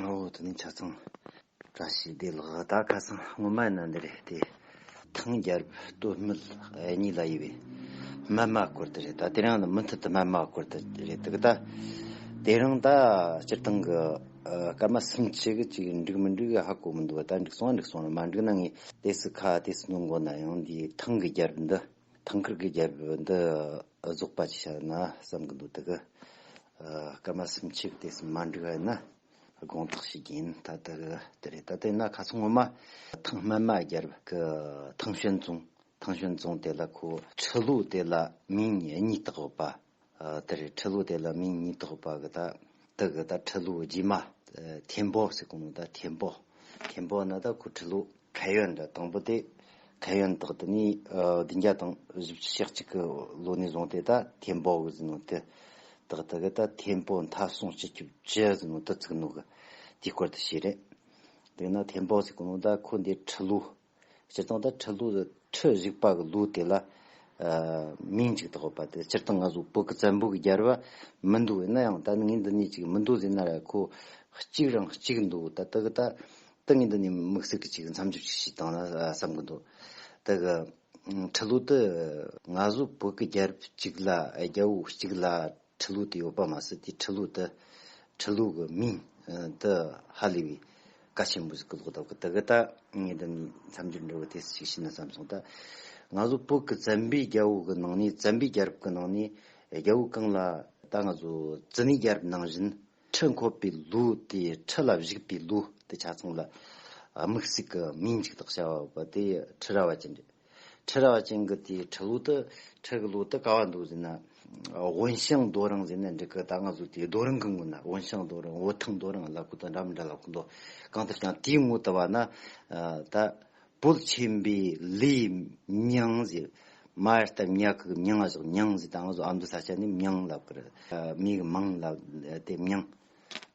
ཨོ་དེ་ནི་ཆ་ཚང་བཀྲ་ཤིས་བདེ་ལགས་ད་ཁ་སང་སྔོན་མ་ན་འདི་རེད་དེ་ཐང་རྒྱལ་བསྟོད་སྨད་གཉིས་ལ་ཡོད་པའི་སྨད་དམག་སྐོར་དེ་རེད་ད་དེ་རང་ནི་མུ་མཐུད་དུ་སྨད་དམག་སྐོར་དེ་རེད་འདུག་ད་དེ་རང་ད་སྤྱིར་བཏང་གི་སྐར་མ་སུམ་ཆའི་གི་ཅིག་འགྲིག་མི་འགྲིག་ཧ་གོ་མི་འདུག་ད་འགྲིག་སོང་ང་འགྲིག་སོང་ང་མ་འགྲིག་ན་ངས་དེ་སུ་ཁ་དེ་སུ་ནུ་མགོ་ན་ཡང་འདིའི་ཐང་གི་རྒྱལ་བསྟོད་འདི། ཐང་ཁུར་གྱི་རྒྱལ་པོ་འདི་རྫོགས་པ་ཅིག་བྱ་ན་བསམ་གྱི་འདུག་དེ་གའི་སྐར་མ་སུམ་ཆའི་སྟེང་སུ་མ་འགྲིག་བ་ནི་དགོངས་དག་ཞིག་ཡིན་ད་དེ་ག་དེ་རེད་ད་དེ་ན་ག་ཚོད་སྔོན་མ་ཐང་སྨད་མ་རྒྱལ་གྱི་ཐང་ཞོན་རྫོང་ཐང་ཞོན་རྫོང་དེ་ལ་ཁོ་ཁྲི་ལོ་དེ་ལ་མིང་གཉིས་བཏགས་ཡོད་པ་དེ་རེད་ཁྲི་ལུགས་དེ་ལ་མིང་གཉིས་ཐོགས་པ་གི་ད་དེ་གི་ད་ཁྲི་ལུགས་རྗེས་མ། ཐེམ་པོ་ཟེར་གོང་ནི་ད་ཐེམ་པོ། ཐེམ་པོ་ནི་ད་ཁུ་ཁྲི་ལུགས། གྷལ་ཡོན་དེ་དང་པོ་དེ་གྷལ་ཡོན་དག་དེ་ནི་བདུན་བརྒྱ་དང་བཞི་བཅུ་ཞག་གཅིག་གི་ལོ་ནས་བཟུང་སྟེ་ད་ཐེམ་པོ་གི་ཟེར་ནོ་དེ་དག་དེ་གི་ད་ཐེམ་པོ་མཐའ་སྲུང་སྤྱི་ཁྱབ་ཅི་ཟེར་ནོ་དེ་བཙུགས་ནོ་གི་དེའི་སྐོར་དུ་བྱས་རེད། དེ་ནི་ཐེམ་པོ་ཟེར་གོང་ནི་ད་ཁུ་འདི་ཁྲི་ལུགས། སྤྱིར་བཏང་དང་ཁྲི་ལུགས་དང་ཁྲི་གཞུག་པ་གི་ལུགས་དེ་ལ་མིང་གཅིག་ཐོགས་པ་དེ་སྤྱིར་བཏང་ང་ཚོ་བོད་ཀྱི་བཙན་པོ་གི་རྒྱལ་རབས་མི་འདུག་ཡིན་ན་ཡང་ད་ངའི་འདི་ནས་ཅིག་མི་འདུག་ཟེར་ན་ར་ཁོ་གཅིག་རང་གཅིག་འདུག་ད་ད་གི་ད་ད་ངའི་འདི་ནས་དམིགས་བསལ་གྱི་ཅིག་མཚམས་འཇོག་ཅིག་བྱེད་དང་ན་བསམ་གྱི་འདུག་ད་གི་ཁྲི་ལུགས་དེ། ང་ཚོ་བོད་ཀྱི་རྒྱལ་རབས་གཅིག་ལ་རྒྱལ་པོ་གཅིག་ལ། ཁྲི་ལུགས་དེའི་ཨོ་པ་མ་སི་ཏི་ཁྲི་ལུགས་དེ་ཁྲི་ལུགས་ཀྱི་མིང་དེ་ཧ་ལས་པའི་བཀའ་ཆེན་པོ་ཟིག་གི་ལོག་ད་གི་དེ་གི་ད་ངས་འདི་ནས་མཚམས་སྦྱོར་འགྲོ་གི་དེ་སུ་ཞིག་བྱས་ན་བསམ་སོང་ད་ང་ཚོ་བོད་ཀྱི་བཙན་པོའི་རྒྱལ་པོ་གི་ནང་ནས་བཙན་པོའི་རྒྱལ་རབས་ཀྱི་ནང་ནས་རྒྱལ་པོ་གང་ལ་ད་ང་ཚོ་ཙི་ནའི་རྒྱལ་རབས་ནང་བཞིན་ཁྲི་འཁོར་པའི་ལུགས་དེ་ཁྲི་ལ་བཞུགས་པའི་ལུགས་དེ་ཆ་ཚང་ལ་དམིགས་སུས་གི་མིང་གཅིག་དག་བྱ་བ་བ་དེ་ཁྲི་ར་བ་ཅན་རེད། ཁྲི་རལ་བ་ཅན་གྱི་དེའི་ཁྲི་ལུགས་དུ་ཁྲི་གི་ལུགས་དུ་ག་བ་འདུག་ཟེར་ན། དབོན་ཞང་རྡོ་རིང་ཟེར་ནས་འགྲིག་གི་ད་ང་ཟུག་དེའི་རྡོ་རིང་གི་ངོས་ན་དབོན་ཞང་རྡོ་རིང་འོ་ཐང་རྡོ་རིང་གླ་ཁུ་དང་འདྲ་མི་འདྲ་ལ་གོ་འདོག་གང་ཐུབ་ཀྱང་དེའི་ངོས་དུ་བ་ན་ད་བོད་ཆེན་པོའི་ལི་མྱང་ཟེར། མ་ཡར་སྟབས་ཉག་གི་མྱང་ང་ཟུག་མྱང་ཟེར་ད་ང་ཟུག་ཨ་མདོ་ས་ཆ་ནས་མྱང་ལབ་གི་རེད་མི་གི་མང་ལབ་དེ་མྱང།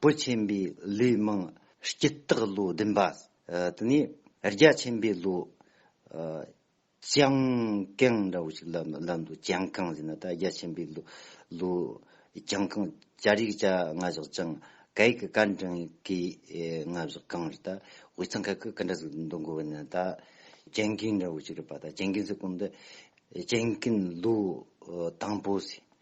བོད་ཆེན་པོའི་ལི་མང་སྐྱི་སྟག་ལོ་བདུན་པ་ཟེར། དེ་ནས་རྒྱ་ཆེན་པོའི་ལོ། ལྗང་གང་འདྲ་བོ་ཞིག་ལབ་འདུག་ལྗང་གང་ཟེར་ན་ད་རྒྱ་ཆེན་པོའི་ལོ། ལྗང་གང། བྱ་རིགས་བྱ་རྔ་བཞག་ལྗང། གད་ཀྱི་ཀ་འགྲེང་ཡིག་གི་རྔ་བཞག་གང་རེད་ད། འོད་མཚམས་ཁ་ཁུ་ག་འདྲ་ཟིག་འདུག་མགོ་བོ་ན་ད། ལྗང་གིང་འདྲ་བོ་ཞིག་རེད་པ་ད་ལྗང་གིང་ཟེར་གོང་ད། ལྗང་གིང་ལོ། དང་པོ་ཟེར།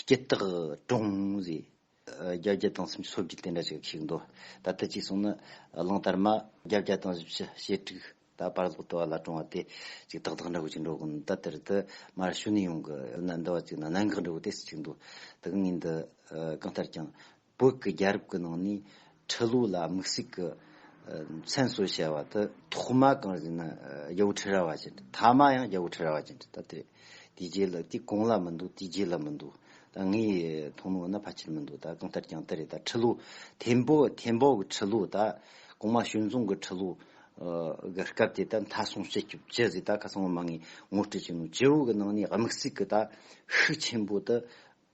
སྐྱེ་རྟགས་གྲོང་ཟེར། བརྒྱ་བརྒྱ་དང་སུམ་ཅུ་སོ་བརྒྱད་དེ་འདྲ་ཞིག་ཞིག་འདུག་ད་ལྟ་གཅིག་གསུངས་ན་གླིང་དར་མ་བརྒྱ་བརྒྱ་དང་བཞི་བཅུ་ཞེ་དྲུག་ད་བར་ལོག་ལྟོ་བ་ལ་གྲོང་བ་དེ་གཅིག་ཏག་ཏག་འདྲ་བོ་ཅིག་འགྲོ་གི་འདུག་ད་དེར་དུ་མར་ཤུ་ནི་ཡོང་གི་ཡོད་ན་འདྲ་བ་ཅིག་ན་གནང་གི་འདྲ་བོ་དེ་སུ་ཅིག་འདུག་དག་ངེས་འདི་གང་ལྟར་ཀྱང། བོད་ཀྱི་རྒྱལ་རབས་ཀྱི་ནང་ནས་ཁྲི་ལོ་ལ་དམིགས་བསལ་གྱི་མཚན་གསོལ་བྱ་བ་དེ། ཐོག་མ་གང་ཞིག་ན་རྒྱལ་པོ་ཁྲི་རལ་བ་ཅན་དྲི་ཐ་མ་ཡང་རྒྱལ་པོ་ཁྲི་རལ་བ་ཅན་དྲི་ད་དེ་དེའི་རྗེས་ལ་དེ་གང་ལ་མི་འདུག་དེའི་རྗེས་ལ་མི་འདུག་ད་ངའི་མཐོང་སྣང་ན་ཕལ་ཆེར་མི་འདུག་ད་གང་ལྟར་ཀྱང་དེ་རེད་ད་ཁྲི་ལོ་ཐེམ་པོ་ཐེམ་པོ་གི་ཁྲི་ལོ་ད་གོང་མ་ཞོན་རྫོང་གི་ཁྲི་ལོ་གི་སྐབས་དེ་ད་མཐའ་སྲུང་བྱེད་སྐྱོབ་ཅི་ཟེར་ད་ཁ་སང་བ་མ་ངས་ངོ་སྤྲོད་བྱས་ནོ་ཇོ་བོ་གི་ནང་ནས་དམིགས་བསལ་གྱི་ད་ཤུགས་ཆེན་པོ་དེ་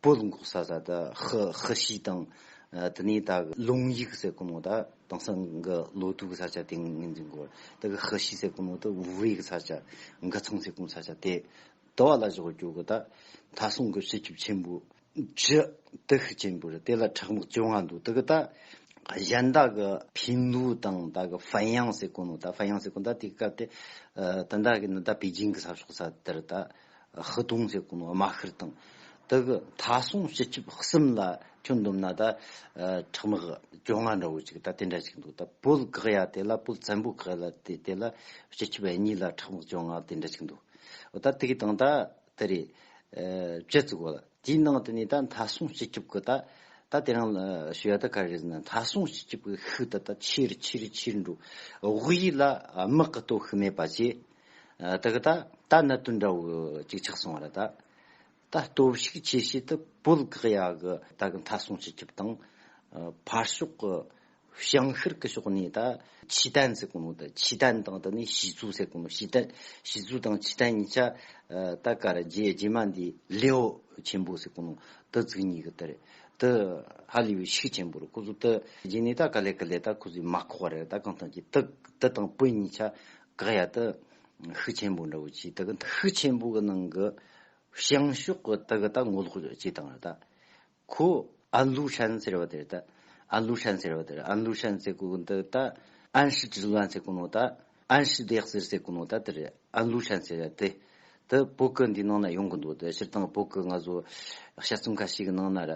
པོད་འགོག་ས་ས་དག་ཧི་ཧི་ཤི་དང། དེ་ནས་དག་གི་ལུང་ཡིག་ཟེར་ཀུ་ནོ་དག་དང་སང་གི་ལོ་དུ་གི་ས་ཆ་དེ་ངེས་འཛིན་དགོས། དག་གི་ཧི་ཤི་ཟེར་ཀུ་ནོ་དག་ཝུ་ཝེ་གི་ས་ཆ། འག་ཚང་ཟེར་ཀུ་ནོ་ས་ཆ་དེ་དུ་བ་ལ་བཞག་གི་གྱོ་གི་དག། ད་སང་གི་བྱི་ཆུབ་ཆེན་པོ། བྱི། དུ་ཤི་ཆེན་པོ་རི་དེ་ལ་ཁྲག་མག་བཅོ་ལྔ་འདུག་དག་གི་དག། གཞན་དག་གི་ཕི་ལུ་དང་དག་གི་ཧྥན་ཡང་ཟེར་ཀུ་ནོ་དག་ཧྥན་ཡང་ཟེར་ཀུ་ནོ་དག་དེ་གི་སྐབས་དེ། དེ་དག་གི་ནི་དག་པེ་ཅིང་གི་ས་ཕྱོགས་ས་དེར་དག། ཧི་གདུང་ཟེར་གོང་དམའ་ཤིར་དང། དག་གི་མཐའ་སྲུང་སྤྱི་ཁྱབ་གསུམ་ལ་ཁྱོད་འདོམས་ན་ད། ཁྲག་མི་གི་བཅོ་ལྔ་འདྲ་བོ་ཅིག་ད་དེ་འདྲ་ཅིག་འདུག་ད་བོད་གག་ཡ་དེ་ལ་བོད་བཙན་པོ་གག་ལ་དེ་དེ་ལ་སྤྱི་ཁྱབ་གཉིས་ལ་ཁྲག་མི་བཅོ་ལྔ་དེ་འདྲ་ཅིག་འདུག་ད་དེ་གི་དང་ད་དེ་རེད། བཅད་བཙུག་གོ་ལ་དེའི་ནང་དུ་ནས་ད་མཐའ་སྲུང་སྤྱི་ཁྱབ་གི་ད་ད་དེ་རང་ལ་ཞུ་ཡ་ད་ག་རེ་ཟེར་ན་མཐའ་སྲུང་སྤྱི་ཁྱབ་གི་ཤུགས་ད་ད་ཆེ་རུ་ཆེ་རུ་ཆེ་རུ་འགྲོ་དབུས་ལ་དམག་གི་གཏོ་ཤུགས་མེད་པ་བཅས་དེ་ག་ད་ད་གནད་དོན་འདྲ་བོ་གཅིག་ཆགས་སོང་བ་རེད་ད། ད་སྟོབས་ཤུགས་ཆེ་ཤོས་དེ་བོད་ཁག་ཡག་གི་ད་གི་མཐའ་སྲུང་སྤྱི་ཁྱབ་དང། ཕར་ཕྱོགས་ཀྱི་ཞིང་ཤར་གྱི་ཕྱོགས་ནས་ད་ཆོས་དད་ཟེར་གོ་ནོ་ད་ཆོས་དད་དང་དེ་ནས་ཞི་ཚུལ་ཟེར་གོ་ནོ་ཞི་དད་ཞི་ཚུལ་དང་ཆོས་དད་གཉིས་ཆ་ད་ག་རེད་རྗེས་རྗེས་མ་འདི་ལེའོ་ཆེན་པོ་ཟེར་གོ་ནོ་དེ་ཚིག་གཉིས་གི་དེ་རེད་དེ་ཧ་ལས་པའི་ཤུགས་ཆེན་པོ་རེད་ཁོ་ཚོ་དེ་རྗེས་ནས་ད་ག་ལས་ག་ལས་ད་ཁོ་ཚོས་མ་ཁོག་བ་རེད་ད་གང་ཐང་ཅི་དེ་དང་བོད་གཉིས་ཆ་དགག་ཡ་དུ་ཤུགས་ཆེན་པོ་འདྲ་བོ་བྱས་དུ་གི་ཤུགས་ཆེན་པོ་གི་ནང་གི་བྱང་ཕྱོགས་གི་དུ་གི་ད་ངོ་ལོག་བྱས་སྟངས་རེད་ད། ཁོ་ཨན་ལུའུ་ཧྲན་ཟེར་བ་དེ་རེད་ད། ཨན་ལུའུ་ཧྲན་ཟེར་བ་དེ་རེད་ཨན་ལུའུ་ཧྲན་ཟེར་དགོས་གི་འདུག་ད། ཨན་ཧྲི་ཀྲི་ལུའན་ཟེར་གི་ནོ་ད། ཨན་ཧྲི་བདེག་ཟེར་ཟེར་གི་ནོ་ད་དེ་རེད་ཨན་ལུའུ་ཧྲན་ཟེར་བ་དེ། དེ་བོད་སྐད་འདིའི་ནང་ན་ཡོང་གི་འདུག་དེ་སྤྱིར་བཏང་བོད་སྐད་ང་ཚོ་དཔྱད་རྩོམ་ཁ་ཤས་ཀྱི་ནང་ན་ར་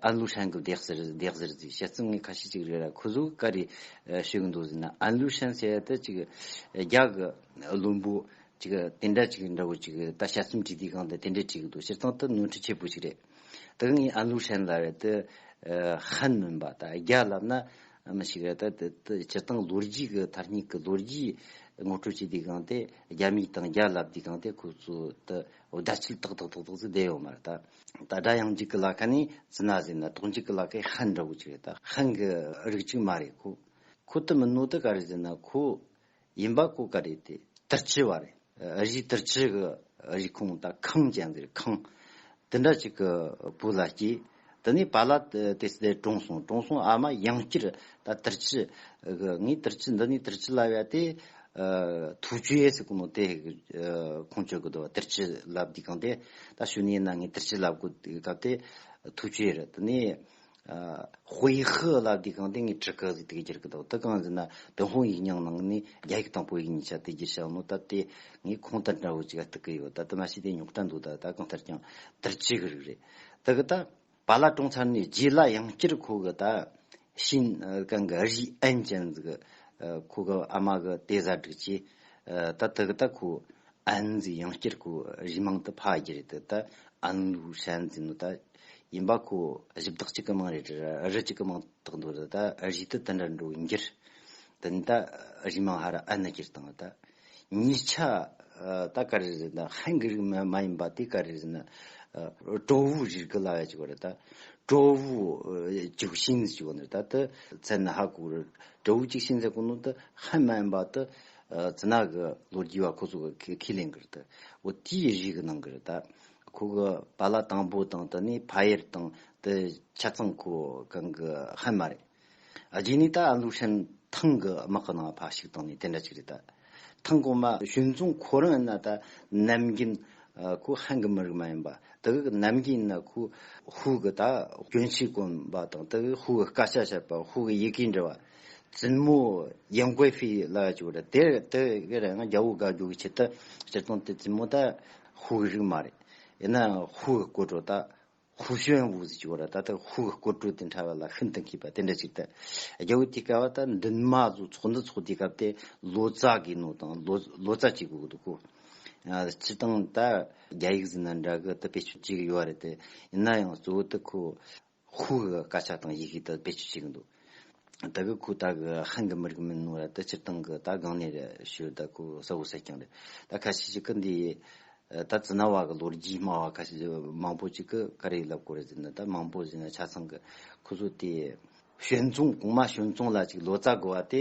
ཨན་ལུའུ་ཧྲན་གྱི་བརྡེག་ཟེར་བརྡེག་ཟེར་ཟིག་དཔྱད་རྩོམ་ངའི་ཁ་ཤས་ཅིག་རེད་ར་ཁོ་ཚོ་ག་རེ་ཤོད་ཀྱི་འདུག་ཟེར་ན་ཨན་ལུའུ་ཧྲན་ཟེར་ཡ་དེ་ཅིག་རྒྱ་གི་བླུན་པོ་ཅིག་དེ་འདྲ་ཅིག་འདྲ་བོ་ཅིག་ད་དཔྱད་རྩོམ་བྲིས་དུས་གང་དེ་དེ་འདྲས་བྲིས་ཀྱི་འདུག་སྤྱིར་བཏང་དེ་ནོར་འཁྲུལ་ཆེ་པོ་ཞིག་རེད། དེ་གཉིས་ཨ་ལུག་ཧྲན་ལ་རེད་དེ། ཧན་མིན་པ་ད་རྒྱ་ལབ་ན་མི་ཞིག་རེད་དེ། སྤྱིར་བཏང་ལོ་རྒྱུས་ཀྱི་མཐར་སྙིགས་ཀྱི་ལོ་རྒྱུས་ངོ་སྤྲོད་བྱེད་དུས་གང་དེ་རྒྱ་མི་དང་རྒྱ་ལབ་དུས་གང་དེ་ཁོ་ཚོ་དེ་དགྲ་ཆིལ་ཏག་ཏག་ཏག་ཏག་ཚིག་བསྡད་ཡོད་མ་རེད་ད། ད་དགྲ་ཡང་འཇིག་གི་ལ་ཁ་ནི་ཛི་ན་ཟེར་ན་དོག་འཇིག་གི་ལ་ཁའི་ཧན་འདྲ་བོ་ཅིག་རེད་ད་ཧན་གྱི་རིགས་ཅིག་མ་རེད་ཁོ། ཁོ་དེ་མིན་ནོ་དེ་ག་རེད་ཟེར་ན་ཁོ་ཡིན་པ་གོ་ག་རེད་དེ་ཏིར་ཆི་བ་རེད་རིགས་ཏིར་ཆི་གི་རིགས་ཁོངས་ད་ཁང་ཅན་ཟེར་ཁང་དེ་འདྲ་ཅིག་གི་བུ་ལ་སྐྱེས་དེ་ནས་བ་ལ་དེ་སྡེ་གྲོངས་སོང་གྲོངས་སོང་ཨ་མ་ཡང་བསྐྱར་ད་ཏིར་ཆི་གི་ངས་ཏིར་ཆི་འདི་ནས་ཏིར་ཆི་ལ་བས་དེ་ཐུགས་ཆུ་ཡེ་སི་ཀུ་ནོ་དེ་ཁོང་ཆོས་གི་དོ་བ་ཏིར་ཆི་ལབ་དུས་གང་དེ་ད་ཤུ་ནས་ན་ངས་ཏིར་ཆི་ལབ་གོ་སྐབས་དེ་ཐུགས་ཆུ་ཡེ་རི་དེ་ནས་ཧུའེ་ཧི་ལ་དུས་གང་དེ་སྔའི་ཁྲི་ཁ་ཟིག་དེ་ག་གྱུར་གི་འདུག་དེ་གང་ཟེར་ན་ཏུན་ཧོང་ཡིག་རྙིང་ནང་ནས་རྒྱ་ཡིག་དང་པོ་ཡིག་གཉིས་ཆ་དེ་རྒྱུ་བྱང་ནོ་ད་དེ་ངས་ཁོང་དང་འདྲ་བོ་ཅིག་ཨ་ཏི་གི་ཡོད་ད་དེ་མ་ཤེས་དེ་ཉོག་དྲ་འདུག་ད་ད་གང་ལྟར་ཀྱང་བསྡུར་བྱེད་གི་རིགས་རེད་ད་གི་ད། བ་ལ་དྲོངས་ཚར་ནས་རྗེས་ལ་ཡང་བསྐྱར་ཁོ་གི་ད་ཤིན་ཀང་གི་ཨ་རིའི་ཨན་ཅན་ཟིག་གི་ཁོ་གི་ཨ་མ་གི་ཏེ་བཟའ་སྒྲིག་བྱས་ད་དེ་གི་ད་ཁོ་ཨན་ཟིག་ཡང་བསྐྱར་ཁོ་རིའི་མང་དུ་ཕ་རྒྱུ་རེད་དེ་ད་ཨན་ལུའུ་ཧྲན་ཟིག་ནོ་ད། ཡིན་པ་ཁོ་གཞི་བདག་གཅིག་གི་མིང་རེད་རི་གཅིག་གི་མིང་དག་འདོད་ད་གཞི་དུ་དེ་འདྲ་འགྲོ་འགྱུར་དེ་ནི་ད་གཞི་མིང་ཧ་ར་ཨ་ནི་གྱིར་དང་ད་ཉིས་ཆ་ད་ག་རེ་རེད་ད་ཧན་གི་རིགས་མ་མ་ཡིན་པ་དེ་ག་རེ་རེད་ན་ཀྲོ་བོའི་རིགས་གི་ལ་ཡ་གཅིག་པ་རེད་ད་ཀྲོ་བོའི་གཅིག་ཤིང་ཟེར་གཅིག་པ་འདུག་ད་དེ་ཚད་ན་ཧ་གོ་རེད་ཀྲོ་བོའི་གཅིག་ཤིང་ཟེར་གོ་ནོ་ད་ཧན་མ་ཡིན་པ་དེ་ཚི་ནག་གི་ལོ་རྒྱུས་བ་ཁོ་ཚོ་གི་ཁས་ལེན་གི་རེད་ད་འོ་དེའི་རིགས་གི་ནང་གི་རེད་ད་ཁོ་གི་བ་ལ་དང་པོ་དང་དུ་ནི་ཕ་ཡེར་དང་དུ་ཆ་ཚང་ཁོ་གང་གི་ཧན་མ་རེད། རྗེས་ནས་ད་ཨ་ལུ་ཧྲན་ཐང་གི་དམག་གི་ནང་ཕ་ཞིག་དང་ནི་དེ་འདྲ་ཅིག་རེད་ད། ཐང་གོང་མ་ཞུན་རྫོང་ཁོ་རང་ཡིན་ན་ད་ནམ་རྒྱུན་ཁོ་ཧན་གི་མི་རིགས་མ་ཡིན་པ་དུ་གི་ནམ་རྒྱུན་ཡིན་ན་ཁོ་ཧུའུ་གི་ད་གྱོན་ཆས་གོན་པ་དང་དུ་གི་ཧུའུ་གི་སྐད་ཆ་བཤད་པ་ཧུའུ་གི་ཡི་གེ་འབྲི་བ་བཙུན་མོ་ཡན་ཀོའེ་ཧྥེའི་ལག་ཡ་ཅིག་རེད་དེར་དུ་གི་རང་རྒྱ་བོ་དགའ་རྒྱོ་གི་ཆེད་དུ་སྤྱིར་བཏང་དུ་བཙུན་མོ་ད་ཧཱུྃ་གི་རིགས་མ་རེད། ཡིན་ནའང་ཧཱུྃ་གི་སྐུ་འགྲོ་དག། ཧཱུྃ་ཞུ་ཡང་འུ་ཟི་ཅིག་བོ་ར་ད་ལྟ་ཧཱུྃ་གི་སྐུ་སྤྲོ་དེ་འཕྲལ་བ་ལ་ཤིན་ཏུ་མཁས་པ་དེ་འདྲ་ཅིག་དང། རྒྱལ་བོ་དེ་སྐལ་བ་དག་འདུན་མ་གཟུགས་ཚོགས་འདི་ཚོགས་དེའི་སྐབས་དེ་ལོ་ཙཱ་གི་ནོ་དང་ལོ་ཙཱ་གཅིག་གི་འུ་འདུག་གོ། སྤྱི་བཏང་དག་རྒྱ་ཡིག་ཟིན་ན་འདྲ་གི་དུ་པེ་ཆུ་གཅིག་གི་ཡོ་རེད་དེ། ཡིན་ན་ཡང་གཙོ་བོ་དུ་ཁོ། ཁུ་གི་དཀར་ཆག་དང་ཡི་གེ་དག་བེད་སྤྱོད་བྱེད་གི་འདུག་ད་གི་ཁུ་ད་གི་ཧན་གི་མི་རིགས་མིན་ནུ་ར་ད་སྤྱིར་བཏང་གི་ད་གང་ནས་རེད་ཞུ་ད་ཁུ་ས་ཧུ་ས་ཀྱང་རེད་ད་ཁ་ཤས་ཅིག་གི་འདི་ད་ཛི་ན་བ་གི་ལོ་རྒྱུས་སྨྲ་བ་ཁ་ཤས་ཅིག་མང་པོ་ཅིག་གི་ཀ་རེ་ལབ་གོ་རེ་ཟེར་ན་ད་མང་པོ་ཟེར་ན་ཆ་ཚང་གི་ཁུ་ཚུར་དེ། བྱོན་བཙོང་གོང་མ་བྱོན་བཙོང་ལ་ཅིག་ལོ་ཙཱ་དགོས་བ་དེ།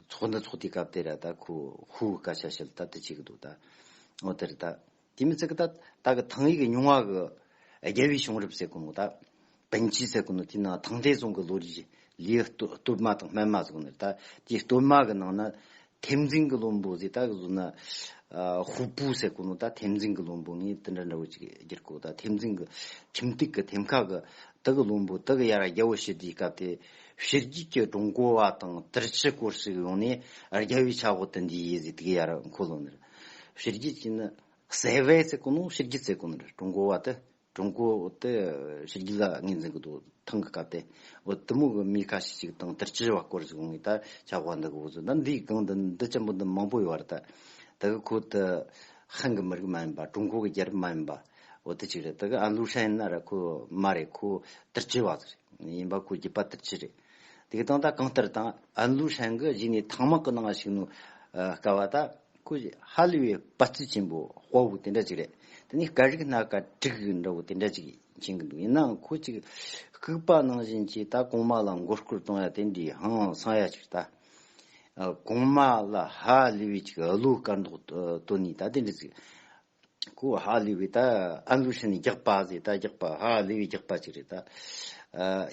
ཚོགས་འདི་ཚོགས་དེའི་སྐབས་དེ་ར་ད་ཁུ་ཧུ་ཀ་ཤ་ཤལ་ད་ཏི་བྱེད་གི་འདུག་ད། ཨོ་དེ་རི་ད། དེ་མི་ཚེ་གི་ད། ད་གི་ཐང་ཡིག་གི་ཉུང་བ་གི། རྒྱལ་བའི་བྱུང་རབས་ཟེར་གི་འདུག་ད། བན་ཆུས་ཟེར་གི་འདུག་དེའི་ནང་ཐང་ཐའི་ཙུང་གི་ལོ་རིས། ལིའི་སྟོད་མ་དང་སྨད་མ་ཟེར་གི་འདུག་ད། དེའི་སྟོད་མ་གི་ནང་ན། ཐེམ་འཛིན་གི་བློན་པོ་ཟེར་ད་གི་གཟུགས་ན། ཧུའུ་པུའུ་ཟེར་གི་འདུག་ད་ཐེམ་འཛིན་གི་བློན་པོ་ངས་དེ་འདྲ་འདྲ་བོ་ཅིག་བསྒྱུར་གི་འདུག་ད་ཐེམ་འཛིན་གི། ཁྱིམ་སྟེགས་གི་ཐེམ་ཁ་གི། དེ་གི་བློན་པོ་དེ་གི་ཡ་ར་རྒྱལ་བོ་ཞི་བདེའི་སྐབས་དེ། ཕྱི་རྒྱལ་གྱི་ཀྲུང་གོ་བ་དང་ཏིར་ཁྱི་སྐོར་ཞིག་ཡོང་ནས་རྒྱལ་བའི་ཆག་སྒོ་དེ་འདི་ཡིན་ཟེར་དགོས་ཡ་རེད་མཁོ་བློ་ནི་རེད། ཕྱི་རྒྱལ་གྱི་ནི་སེ་བའི་ཚེ་གོ་ནོ་ཕྱི་རྒྱལ་ཚེ་གོ་ནི་རེད་ཀྲུང་གོ་བ་དེ་ཀྲུང་གོ་དེ་ཕྱི་རྒྱལ་ལ་ངོས་འཛིན་གི་འདུག་ཐང་གི་སྐབས་དེ་བུ་མོ་གི་མི་ཁ་ཤས་ཤིག་དང་ཏིར་ཁྱི་བ་སྐོར་ཞིག་ཡོང་ནས་ད་ཆག་སྒོ་འདི་གི་བུ་ཟོས་ད་འདིའི་སྒང་འདི་འདི་ཆེན་པོ་འདི་མང་པོ་ཡོད་རེད་ད། དེ་གི་ཁོ་དེ་ཧན་གི་མི་རིགས་མ་ཡིན་པ་ཀྲུང་གོ་གི་རྒྱལ་རབས་མ་ཡིན་པ། འོ་དེ་གཅིག་རེད་དེ་ག་ཨ་ལུག་ཧྲན་ཨ་ར་ཁུ་མ་རེད་ཁུ་ཏིར་ཅི་བ་ཟེར་ཡིན་པ་ཁུ་རྒྱུད་པ་ཏིར་ཅི་རེད་དེ་གི་སྟངས་ད་གང་ལྟར་དང་ཨ་ལུག་ཧྲན་གི་གཞི་ནས་ཐང་མག་གི་ནང་ཞིག་ནུ་དཀའ་བ་ད་ཁུ་ཧ་ལི་བའི་དཔའ་རྩིས་ཆེན་པོ་དཔའ་བོ་དེ་འདྲ་གཅིག་རེད་དེ་ནས་སྐད་རིགས་སྣ་ཀ་དྲུག་འདྲ་བོ་དེ་འདྲ་གཅིག་མཁྱེན་གི་འདུག་ཡིན་ནའང་ཁུ་གཅིག་ལྐུགས་པ་ནང་བཞིན་གྱི་ད་གོང་མ་ལ་མགོ་སྐོར་གཏོང་ཡ་དེ་འདྲའི་ཧང་སང་ཡ་གཅིག་རེད་ད་གོང་མ་ལ་ཧ་ལི་བའི་གཅིག་ཨ་ལུག་སྐར་མདོག་སྟོན་ནས་ད་དེ་འདྲ་གཅིག་ཀུའོ་ཧྭ་ལི་བའི་ད་ཨན་ལུའུ་ཧྲན་ནི་རྒྱག་པ་ཟེར་ད་རྒྱག་པ་ཧྭ་ལི་བའི་རྒྱག་པ་ཅིག་རེད་ད།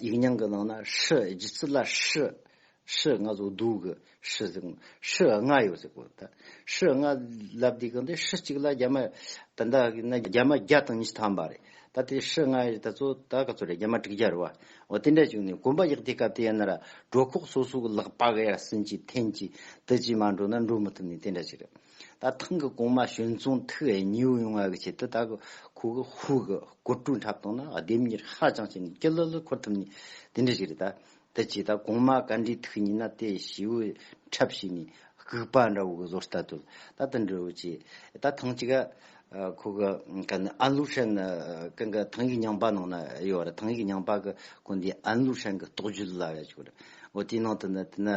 ཡིག་རྙིང་གི་ནང་ན་ཧྲི་རྒྱུད་ཚིག་ལ་ཧྲི་ཧྲི་ལྔ་བཟོ་སྡུག་གི་ཧྲི་ཟེར་གོ། ཧྲི་ལྔ་ཡོད་ཟེར་གོ་ད། ཧྲི་ལྔ་ལབ་དུས་གི་འདི་ཧྲི་གཅིག་ལ་རྒྱ་མ་དེ་འདྲ་གི་ན་རྒྱ་མ་བརྒྱ་དང་ཉི་ཤུ་ཐམ་པ་རེད་ད་དེ་ཧྲི་ལྔ་ཡི་ད་ཚོ་ད་ག་ཚོད་རེད་རྒྱ་མ་དྲུག་བརྒྱ་རེད་བ། འོ་དེ་འདྲ་བྱུང་ནས་གོམ་པ་ཡག་དེ་སྐབས་དེ་ཡན་ན་ར་གྲོ་ཁོག་སོ་སོ་གི་ལག་པ་ག་ཡར་སིན་གྱིས་འཐེན་གྱིས་དེ་གྱིས་མ་འགྲོ་ན་འགྲོ་མི་ཐུབ་ནས་དེ་འདྲ་ཅིག་རེད། ད་ཐེངས་ཀྱི་གོང་མ་གཞོན་ཚོང་ཐིག་ཨེ་ཉིའུ་ཡོང་བ་གི་ཆེད་དུ་ད་གི་ཁོ་གི་ཧུའུ་གི་སྒོར་དྲུག་འཁྲབ་བཏང་ན་ལྡེབ་གཉིས་ཧ་ཅང་ཆེ་ནས་སྐྱི་ལྷོད་ལྷོད་འཁོར་ཐུབ་ནི་དེ་འདྲ་ཞིག་རེད་ད། དེ་ཆེད་ད་གོང་མ་བཀའ་འདྲིའི་ཐིག་ཉིན་ན་དེ་ཞེའུ་འཁྲབ་བྱས་ནས་སྒུག་པ་འདྲ་བོ་གི་བཟོ་ལྟ་དུ་ད་དེ་འདྲ་བོ་བྱས་ད་ཐེངས་ཀྱི་ཁོ་གི་ག་ནི་ཨན་ལུའུ་ཧྲན་གི་གི་ཐེངས་ཀྱི་ཉང་པ་ནང་ན་ཡོད་རེད་ཐེངས་ཀྱི་ཉང་པ་གི་གོ་འདི་ཨན་ལུའུ་ཧྲན་གི་རྟོགས་བརྗོད་ལ་ཡོད་ཅིག་རེད་འོ་དེའི་ནང་དུ་ནི་དེ་ནི་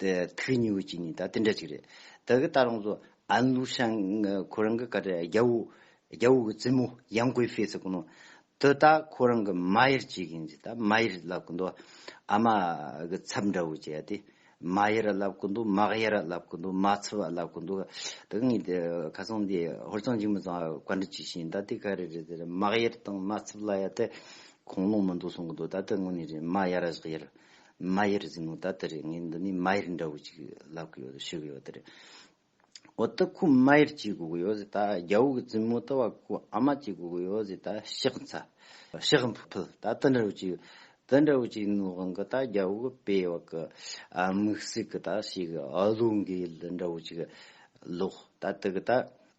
དེ་ཐུགས་མཉེས་བོ་ཅིག་ནི་ད་དེ་འདྲ་ཅིག་རེད། ད་གི་ད་རང་ཚོ་ཨ་ནུ་ཤང་ཁོ་རང་གི་དཀའ་དྲག་རྒྱ་བོ་རྒྱ་བོ་གི་རྩེད་མོ་ཡང་གོས་ཕེ་ཚེ་གོ་ནོ། དུ་ད་ཁོ་རང་གི་མ་ཡར་བྱེད་གིན་ཅིག་ད་མ་ཡར་ལབ་གི་འདུག་ཨ་མ་གི་ཚབ་འདྲ་བོ་བྱས་ཏེ། མ་ཡར་ལབ་གི་འདུག་མ་ཡར་ལབ་གི་འདུག་མ་ཚབ་ལབ་གི་འདུག་དུ་ངས་དེ་ཁ་སང་དེ་ཧོར་གཙང་ཆེན་མོ་ཚང་བཀའ་འདྲི་བྱས་ཤིང་ད་དེ་ག་རེ་རེད་དེ་མ་ཡར་དང་མ་ཚབ་ལ་ཡ་དེ་གོང་ལོང་མི་འདུག་གསུང་གི་འདུག་ད་དེ་དངོས་ནས་རེད་མ་ཡར་ཡར་མ་ཡེར་གཟིགས་མོ་ད་དེ་རེད་ངས་འདི་ནས་མ་ཡེར་འདྲ་བོ་ཅིག་ལབ་གི་ཡོད་རེད་ཤི་གི་ཡོད་དེ་རེད། འོ་ད་ཁོ་མ་ཡེར་གཅིག་དགོས་གི་ཡོད་རེད་ད་རྒྱ་བོ་གི་གཟིགས་མོ་ད་བ་ཁོ་ཨ་མ་གཅིག་དགོས་གི་ཡོད་རེད་ད་ཤག་ཚ་ཤག་འཕུལ་ད་དེ་འདྲ་བོ་ཅིག་ཡོད་དེ་འདྲ་བོ་ཅིག་ནུ་གང་གི་ད་རྒྱ་བོ་གི་པེ་བ་གི་དམིགས་སྲིག་གི་ད་ཤི་གི་ཨ་ལུ་འགའི་ལུ་འདྲ་བོ་ཅིག་ལོག་ད་དེ་གི་ད་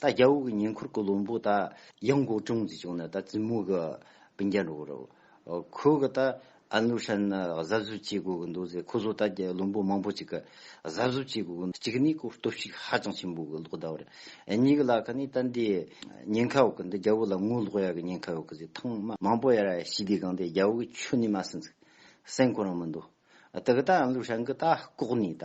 ད་རྒྱ་བོད་ཀྱི་ཉེ་འཁོར་གྱི་བློན་པོ་ད་ཡང་གོ་ཀྲུང་ཟེར་བྱུང་ན་ད་བཙུན་མོ་གི་བུ་འཇའ་འགྲོ་གི་རེད། ཁོས་གི་ད་ཨ་ནུ་ཧྲན་གཟབ་གཟུབ་བྱེད་དགོས་གི་འདུག་ཟེར་ཁོ་ཚོ་ད་རྒྱ་བློན་པོ་མང་པོ་ཅིག་གི་གཟབ་གཟུབ་བྱེད་དགོས་གི་འདུག་གཅིག་ནས་སྐོར་སྟོབས་ཤུགས་ཧ་ཅང་ཆེན་པོ་གི་ལོག་ལྟ་བ་རེད། གཉིས་གི་ལ་ཁ་ནས་ད་འདི་ཉེན་ཁ་ཡོད་གི་འདུག་རྒྱ་བོད་ལ་ངོ་ལོག་ཡ་གི་ཉེན་ཁ་ཡོད་གི་ཟེར་ཐང་མང་པོ་ཡ་ར་ཞི་བདེ་གང་དེ་རྒྱ་བོད་ཀྱི་ཆོས་ནས་མ་ཟིན་ཟིག་སེམས་ཁོ་རང་མི་འདུག་ད་གི་ད་ཨ་ནུ་ཧྲན་གི་ད་ལྐོག་ནས་ད་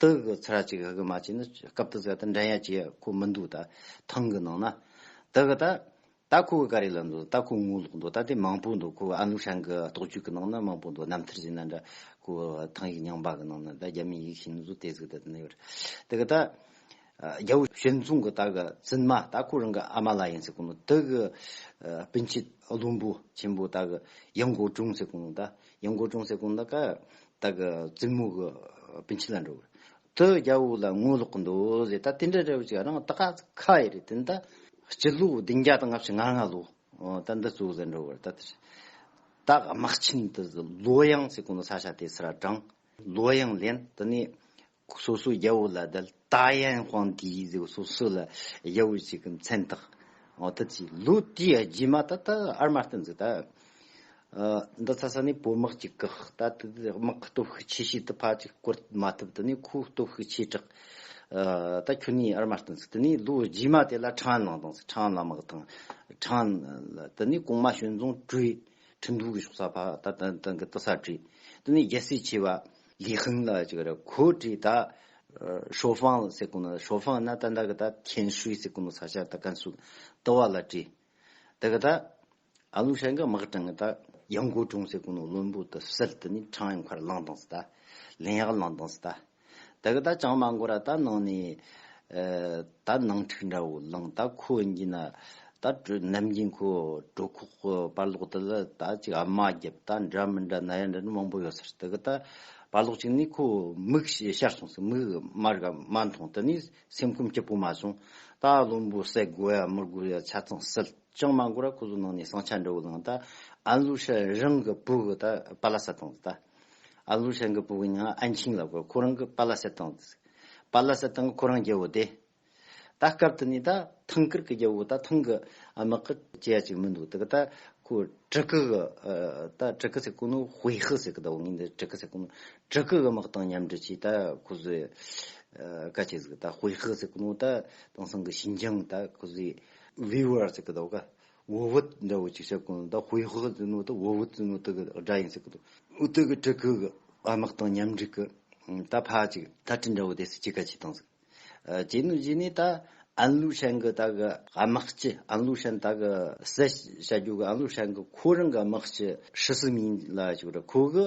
དུ་གི་ཚར་གཅིག་ཧི་གི་མ་བྱས་ན་སྐབས་དུ་ཟད་ད་འགྲན་ཡ་བྱེད་ཁོ་མི་འདུག་ད་ཐང་གི་ནང་ན། དུ་གི་ད། ད་ཁོ་གི་ཀ་རེ་ལ་འདུག་ད་ཁོ་ངོ་ལོག་འདུག་ད་དེ་མང་པོ་འདུག་ཁོ་ཨ་ནུ་ཧྲན་གི་རྟོག་དཔྱོད་གི་ནང་ན་མང་པོ་འདུག་རྣམ་ཐར་ཟེར་ན་འདྲ་ཁོ་ཐང་ཡིག་ཉང་བ་གི་ནང་ན་ད་རྒྱ་མིའི་ཡིག་བྱིན་ནོ་ཟོ་དེ་ཟིག་ད་དེ་ན་ཡོད་རེད། དུ་གི་ད། རྒྱལ་བུ་ཞལ་མཚུངས་ཀྱི་དག་བཙུན་མ་དག་ཁོ་རང་གི་ཨ་མ་ལ་ཡིན་ཟེར་གོང་མོ་དག་གི་སྤུན་མཆེད་བློན་པོ་ཆེན་པོ་དག་གཡང་སྒོ་དྲུང་ཟེར་གོང་མོ་དག་གཡང་སྒོ་དྲུང་ཟེར་གོང་མོ་དག་དག་གི་བཙུན་མོ་གི་སྤུན་མཆེད་ལ་འགྲོ་དག་རྒྱལ་བུ་ལ་ངོ་ལོག་གི་འདོད་ཟེར་དག་དེ་འདྲ་རེ་བ་ཅིག་རང་དག་ཁ་ཡི་རེད་དེ་དག་སྤྱི་ལོ་བདུན་བརྒྱ་དང་ལྔ་བཅུ་ང་ལྔ་ལོ་དག་འདི་ཙོ་ལ་འགྲོ་བར་དག་དེ་དག་དམག་ཆེན་དུ་ལོ་གཡང་ཟེར་གོང་མོ་ས་ཆ་དེ་སི་ར་བགྲང་ལོ་གཡང་ལེན་དེ་ནས་སོ་སོའི་རྒྱལ་པོ་ལ་བརྡལ། ད་ཡན་ཧོང་དེའི་ཡིག་འཛུགས་སོ་སོ་ལ་རྒྱལ་པོ་གཅིག་གི་མཚན་བཏགས། འོ་ད་ཅི་ལུགས་དེའི་རྗེས་མ་ད་ལྟ་ཨར་མ་ཏི་འཛུགས་ད། འདི་ཚ་ས་ནས་བོད་དམག་ཅིག་བཀག་ད་དེ་དེ་དམག་གི་སྟོབས་ཤུགས་ཆེ་ཤོས་དེ་ཕ་ཅིག་བསྐོར་མ་ཐུབ་དེ་ནས་ཁོའི་སྟོབས་ཤུགས་ཆེ་དྲགས། ད་ཁྱོད་ནས་ཨར་མ་ཏི་འཛུགས་དེ་ནས་ལོ་རྗེས་མ་དེ་ལ་ཁྲང་ལང་དང་ཁྲང་ལ་དམག་དང། ཁྲང་ལ་དེ་ནས་གོང་མ་ཞོན་རྫོང་བྲོས། ཁྲི་འདུ་གི་ཕྱོགས་ས་ཕ་ད་ད་ད་གི་ད་ས་བྲོས། དེ་ནས་རྒྱལ་སྲས་ཆེ་བ། ལི་ཧུང་ལ་ཅིག་ར་གོ་དྲི་ད། ཧྲོ་ཧྥང་ལ་སེ་ཀུ་ནོ་ད་ཧྲོ་ཧྥང་ན་ད་འདའ་གི་ད་ཐེན་ཧྲུའི་སེ་ཀུ་ནོ་ས་ཤར་ད་ཀན་སུའུ་ཏི་བ་ལ་དྲི་ད་གི་ད། ཨ་ལུང་ཧྲན་གི་དམག་གྲངས་གི་ད་ཡང་གོ་གྲོང་སེ་ཀུ་ནོ་བློན་པོ་ད་སིལ་ཏི་ནི་ཁྲང་ཡང་ཁར་ལང་དང་སི་ད་ལིན་ཡག་ལང་དང་སི་ད། ད་གི་ད་ཅང་མ་འགོ་ར་ད་ནང་ནས། ད་ནང་འཁྲིག་འདྲ་བོ་ལངས་ད་ཁོ་གཉིས་ན་ད་དྲོད་ནམ་གྱིན་ཁོ་གྲོད་ཁོག་གི་པར་ལོག་དེ་ལ་ད་ཅིག་ཨ་མ་རྒྱབ་ད་འདྲ་མི་འདྲ་ན་ཡ་འདྲ་འདྲ་མང་པོ་ཡོད་ས་རེད་དེ་གི་ད་པར་ལོག་ཅིག་ནས་ཁོ་མིག་ཞར་སོང་ཟིག་མིག་དམར་ག་མ་མཐོང་དེ་ནས་སེམས་ཁུམས་སྐྱིད་པོ་མ་བྱུང་ད་བློན་པོ་བསད་དགོས་ཡ་མི་དགོས་ཡ་ཆ་ཚང་སེལ་ཅང་མ་འགོར་ར་ཁོ་ཚོ་ནང་ནས་ཟངས་ཆ་འདྲ་བོ་ལངས་ད་ཨན་ལུ་ཧྲི་རང་གི་བུ་གི་ད་པ་ལ་ས་དང་ད། ཨ་ལུ་ཧྲན་གྱི་བུ་གཉིས་ཨ་འཆིང་ལ་དགོས་ཁོ་རང་གི་པ་ལ་སེ་ཏང་དང། པ་ལ་སེ་ཏང་གི་ཁོ་རང་རྒྱལ་བོ་དེ། ད་སྐབས་དེ་ནས་ད་ཐང་ཀིར་གྱི་རྒྱལ་བོ་ད་ཐང་གི་དམག་གི་སྐྱེས་ཡ་ཅིག་མི་འདུག་ད་གི་ད་ཁོ་ཀྲི་ཀི་གི་ད་ཀྲི་ཀི་སེ་ཀུ་ནོ་ཧུའེ་ཧི་ཟེར་གི་ད་བོ་ངས་འདི་ཀྲི་ཀི་སེ་ཀུ་ནོ་ཀྲི་ཀི་གི་དམག་དང་མཉམ་འབྲེལ་གྱིས་ད་ཁོ་ཚོས་ཀ་ཅིག་ཟིག་ད་ཧུའེ་ཧི་སེ་ཀུ་ནོ་ད་དེང་སང་གི་ཞིན་ཅང་ད་ཁོ་ཚོས་ཝི་ཝར་ཟེར་གི་ད་བོ་ཀ་འུ་བུད་འདྲ་བོ་ཅིག་བྱེད་དགོས་ན་ད་ཧུའེ་ཧུའེ་ཙི་ནུའུ་དང་འུ་བུད་ཙི་ནུའུ་དག་གི་སྒྲ་ཡིན་ཟེར་གི་འདུག་འུ་དག་གི་སྤྲུལ་སྐུ་གི་དཔའ་དམག་དང་མཉམ་འགྲིག་གི་ད་ཕ་ཅིག་ད་སྤྲུལ་འདྲ་བོ་དེ་སུ་ཅིག་ག་ཅིག་དང་ཟེར་གི་ཅེས་ནུ་ཞིག་ནས་ད་ཨན་ལུའུ་ཧྲན་གི་དག་གི་དམག་སྤྱི་ཨན་ལུའུ་ཧྲན་དག་གི་སེར་བྱ་རྒྱུག་གི་ཨན་ལུའུ་ཧྲན་གི་ཁོ་རང་གི་དམག་སྤྱི་ཧྲི་སི་མིན་ལ་ཞིག་རེད་ཁོ་གི་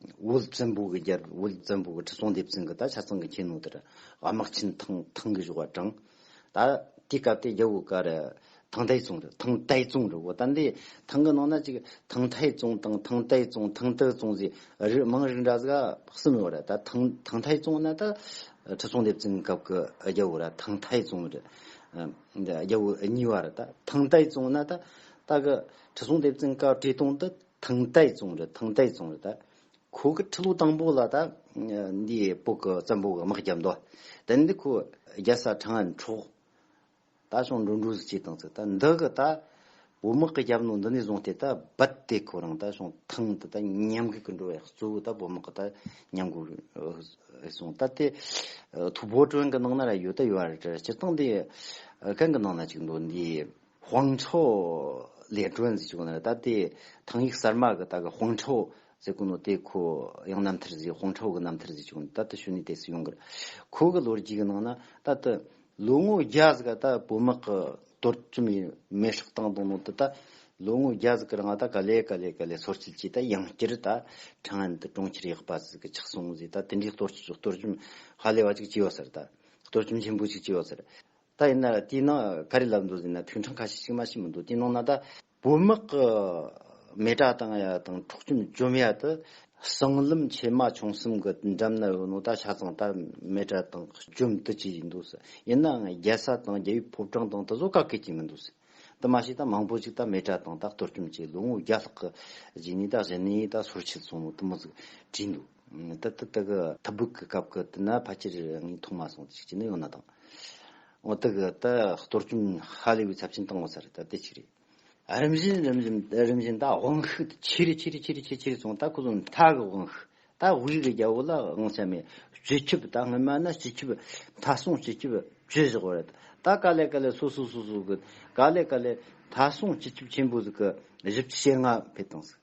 དབུ་བཙན་པོ་གི་རྒྱལ་དབུ་བཙན་པོ་གི་ཁྲི་སྲོང་ལྡེ་བཙན་གྱི་ད་ཆ་ཚང་གི་ཁྱེད་ནུ་དེར་དམག་ཆེན་ཐང་ཐང་གི་བཞུགས་བ་དྲང། ད་དེའི་སྐབས་དེ་རྒྱལ་བུ་ག་རེ་ཐང་ཏའི་ཙུང་རེད་ཐང་ཏའི་ཙུང་རེད་བོ་ད་འདི་ཐང་གི་ནང་ན་ཅིག་ཐང་ཐའི་ཙུང་དང་ཐང་ཏའི་ཙུང་ཐང་ཏའི་ཙུང་ཟེ་རིགས་མང་རིགས་འདྲ་ཟེ་གསུམ་ཡོད་རེད་ད་ཐང་ཐང་ཐའི་ཙུང་ན་ད་ཁྲི་སྲོང་ལྡེ་བཙན་སྐབས་གི་རྒྱལ་བུ་ར་ཐང་ཐའི་ཙུང་རེད། རྒྱལ་བུ་གཉིས་བ་རེད་ད་ཐང་ཏའི་ཙུང་ན་ད་ད་གི་ཁྲི་སྲོང་ལྡེ་བཙན་སྐབས་ཀྲེ་ཏུང་དུ་ཐང་ཏའི་རྫོང་རེད་ཐང་ཏའི་རྫོང་རེད་ད། ཁོ་གི་ཁྲི་ལོ་དང་པོ་ལ་ད། འདིའི་སྤོ་གི་བཙན་པོ་གི་དམག་རྒྱབ་མདོ། དེ་ནས་འདི་ཁོ་རྒྱལ་ས་ཁྲང་ཨན་འཕྲོག། ད་ཞང་འགྲོ་འགྲོ་ཟིག་ཅེས་དང་ཟིག་ད་འདི་གི་ད། བུ་དམག་གི་རྒྱབ་ནང་འདི་ནས་བཟུང་སྟེ་ད་རྦད་དེ་ཁོ་རང་ད་ཞང་ཐང་དུ་ད་ཉམས་རྒུད་ཀྱི་འགྲོ་བའི་གཙོ་བོ་ད་བུ་དམག་གི་ད་ཉམས་རྒུད་རེད་སོང་ད་དེ། ཐུ་བོ་ཀྲོན་གི་ནང་ན་ར་ཡོད་ད་ཡོད་རེད་སྤྱིར་བཏང་འདི། ཀན་གི་ནང་ན་ཅིག་འདུག་འདིའི། ཧོང་ཁྲོ། ལས་གྲོལ་འཛི་ཅུག་ན་རེ་ད་དེ་ཐང་ཡིག་གསར་མ་གི་ད་གི་ཧོང་ཁྲོ་ཟེ་གུ་ནོ་དེ་ཁོ་ཡང་རྣམ་ཐར་ཟི་ཧོང་ཁྲོ་གི་རྣམ་ཐར་འཛི་ཅུག་ན་ད་ད་ཤུ་ནི་དེ་སི་ཡོང་གི་རེད། ཁོ་གི་ལོ་རྒྱུས་གི་ནང་ན་ད་ད་ལོ་ངོ་བརྒྱ་ཟི་ག་ད་བོད་དམག་གི་གཏོར་བཙུམ་ཡི་མེ་ཧྲག་བཏང་དང་ནང་དུ་ད་ལོ་ངོ་བརྒྱ་ཟི་གི་རང་ད་ག་ལེ་ག་ལེ་ག་ལེ་སོར་སྐྱིལ་གྱིས་ད་ཡང་བསྐྱར་ད་ཁྲང་ཨན་དུ་གྲོང་ཁྱེར་ཡག་པ་ཟི་གི་ཆགས་སོང་ཟི་ད་དེ་འདྲའི་གཏོར་བཙུམ་ཧ་ལས་བ་ཅིག་བྱས་ཡོད་ཟེར་ད་གཏོར་བཙུམ་ཆེན་པོ་ཅིག་བྱས་ཡོད་ཟེར། ད་ཡིན་ན་དེའི་ནང་ག་རེ་ལབ་འདུག་ཟེར་ན་ཐུན་གྲངས་ཁ་ཤས་ཤིག་མ་ཤེས་མི་འདུག་དེ་ནང་ན་ད། བོད་དམག་གི་མེ་དྲ་དང་ཡ་དང་འཕྲོག་བཅོམ་བཅོམ་ཡ་དེ་གསང་ལམ་ཆེ་མ་ཆུང་གསུམ་གི་འགྲམ་ན་ཡོད་ནོ་ད་ཆ་ཚང་ད་མེ་དྲ་དང་བཅོམ་དུ་བྱས་ཡིན་འདུག་ཟེར་ཡིན་ནའང་རྒྱལ་ས་དང་རྒྱལ་བའི་ཕོབ་གྲངས་དང་དེ་ཚོ་ག་གེ་བྱས་མི་འདུག་ཟེར་དེ་མ་ཤེས་ད་མང་པོ་ཅིག་ད་མེ་དྲ་དང་ད་གཏོར་བཅོམ་བྱས་ལོ་ངོ་བརྒྱ་ལྷག་གི་རྗེས་ནས་ད་གཞི་ནས་ད་སོར་ཆུད་སོང་ནོ་དེ་མོ་ཟིག་བྲིས་འདུག། ད་ལྟ་དག་ཐབ་སྦུག་གི་སྐབས་ཀྱི་དུས་ན་ཕལ་ཆེར་ངས་མཐོང་མ་སོང་ཚིག་གཅིག་ནི་ཡང་ན་དང། འོ་དག་ད་གཏོར་སྐྱོན་ཧ་ལས་པའི་ཚབས་ཆེན་བཏང་བ་ཚར་ད་དེ་གཅིག་རེད། རིམ་བཞིན་རིམ་བཞིན་རིམ་བཞིན་ད་དབང་ཤུགས་དེ་ཆེ་རེ་ཆེ་རེ་ཆེ་རེ་ཆེ་ཆེ་རེ་སོང་ད་ཁོ་ཚོ་མཐའ་གི་དབང་ཤུགས་ད་དབུས་གི་རྒྱལ་པོ་ལ་དབང་ཆ་མེད་སྤྱི་ཁྱབ་ད་སྔོན་མ་ན་སྤྱི་ཁྱབ་མཐའ་སྲུང་སྤྱི་ཁྱབ་བཅོས་བཞག་པ་རེད་ད་དཀའ་ལས་དཀའ་ལས་སོ་སོ་སོ་སོ་གི་དཀའ་ལས་དཀའ་ལས་མཐའ་སྲུང་སྤྱི་ཁྱབ་ཆེན་པོ་ཟིག་གི་བཞི་བཅུ་ཞེ་ལྔ་འཕེལ་བཏང་ཟིག།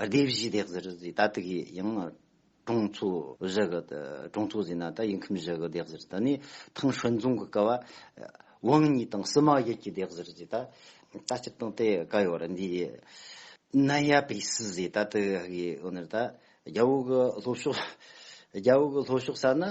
སྡེ་བཞི་སྟེ་གཟིར་བཟི་ད་ཏི་གི་ཡང་གྲོང་ཚོ་བཞི་གི་གྲོང་ཚོ་བཟི་ན་ད་ཡིན་ཁིམ་བཞི་གི་སྡེ་གཟིར་ད་ནི་ཐང་ཧྲོན་རྫོང་གི་ཀ་བ་ཝང་གཉིས་དང་སི་མ་ཡིད་ཀྱི་སྡེ་གཟིར་བཟི་ད་ད་སྤྱིར་བཏང་དེ་ག་ཡོད་རེད་འདི་ནི་ཡ་པི་སི་བཟི་ད་ཏི་གི་ཨོ་ནེར་ད་རྒྱ་བོད་གི་ལྷོ་ཕྱོགས་རྒྱ་བོད་གི་ལྷོ་ཕྱོགས་ས་ནི་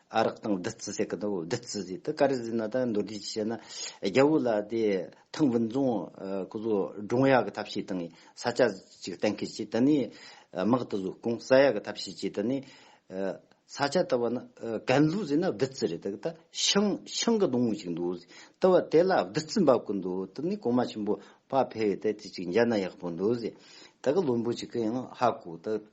ཨ་རག་དང་བདུད་རྩི་ཟེར་གི་འདུག་བདུད་རྩི་དེ་དེ་ག་རེ་ཟེར་ན་ད་མདོར་བསྡུས་ཀྱིས་བཤད་ན། རྒྱལ་པོ་ལ་དེ་ཐང་བུན་རྫོང་སྐུ་བཟོ་སྒྲུང་ཡག་གི་ཐབས་ཤེས་དང་ས་སྐྱ་ཅིག་གཏན་འཁེལ་གྱིས་དེ་ནས་དམག་དུ་བཟོས་གོང་ས་ཡག་གི་ཐབས་ཤེས་ཀྱིས་དེ་ནས། ས་སྐྱ་ལྟ་བ་ན་གན་ལྷུ་ཟེར་ན་བདུད་རྩི་རེད་འདུག་ད་ཤིང་ཤིང་གི་སྡོང་བོ་ཅིག་འདུག་ཟེར་ལྟ་བ་དེ་ལ་བདུད་རྩི་འབབ་ཀྱི་འདུག་དེ་ནས་གོང་མ་ཆེན་པོ་བག་ཕེབས་ཡོད་དེ་དེ་ཅིག་མཇལ་ན་ཡག་པོ་འདུག་ཟེར་ད་གི་བློན་པོ་ཅིག་གི་ཡང་ཧ་གོ་དེ།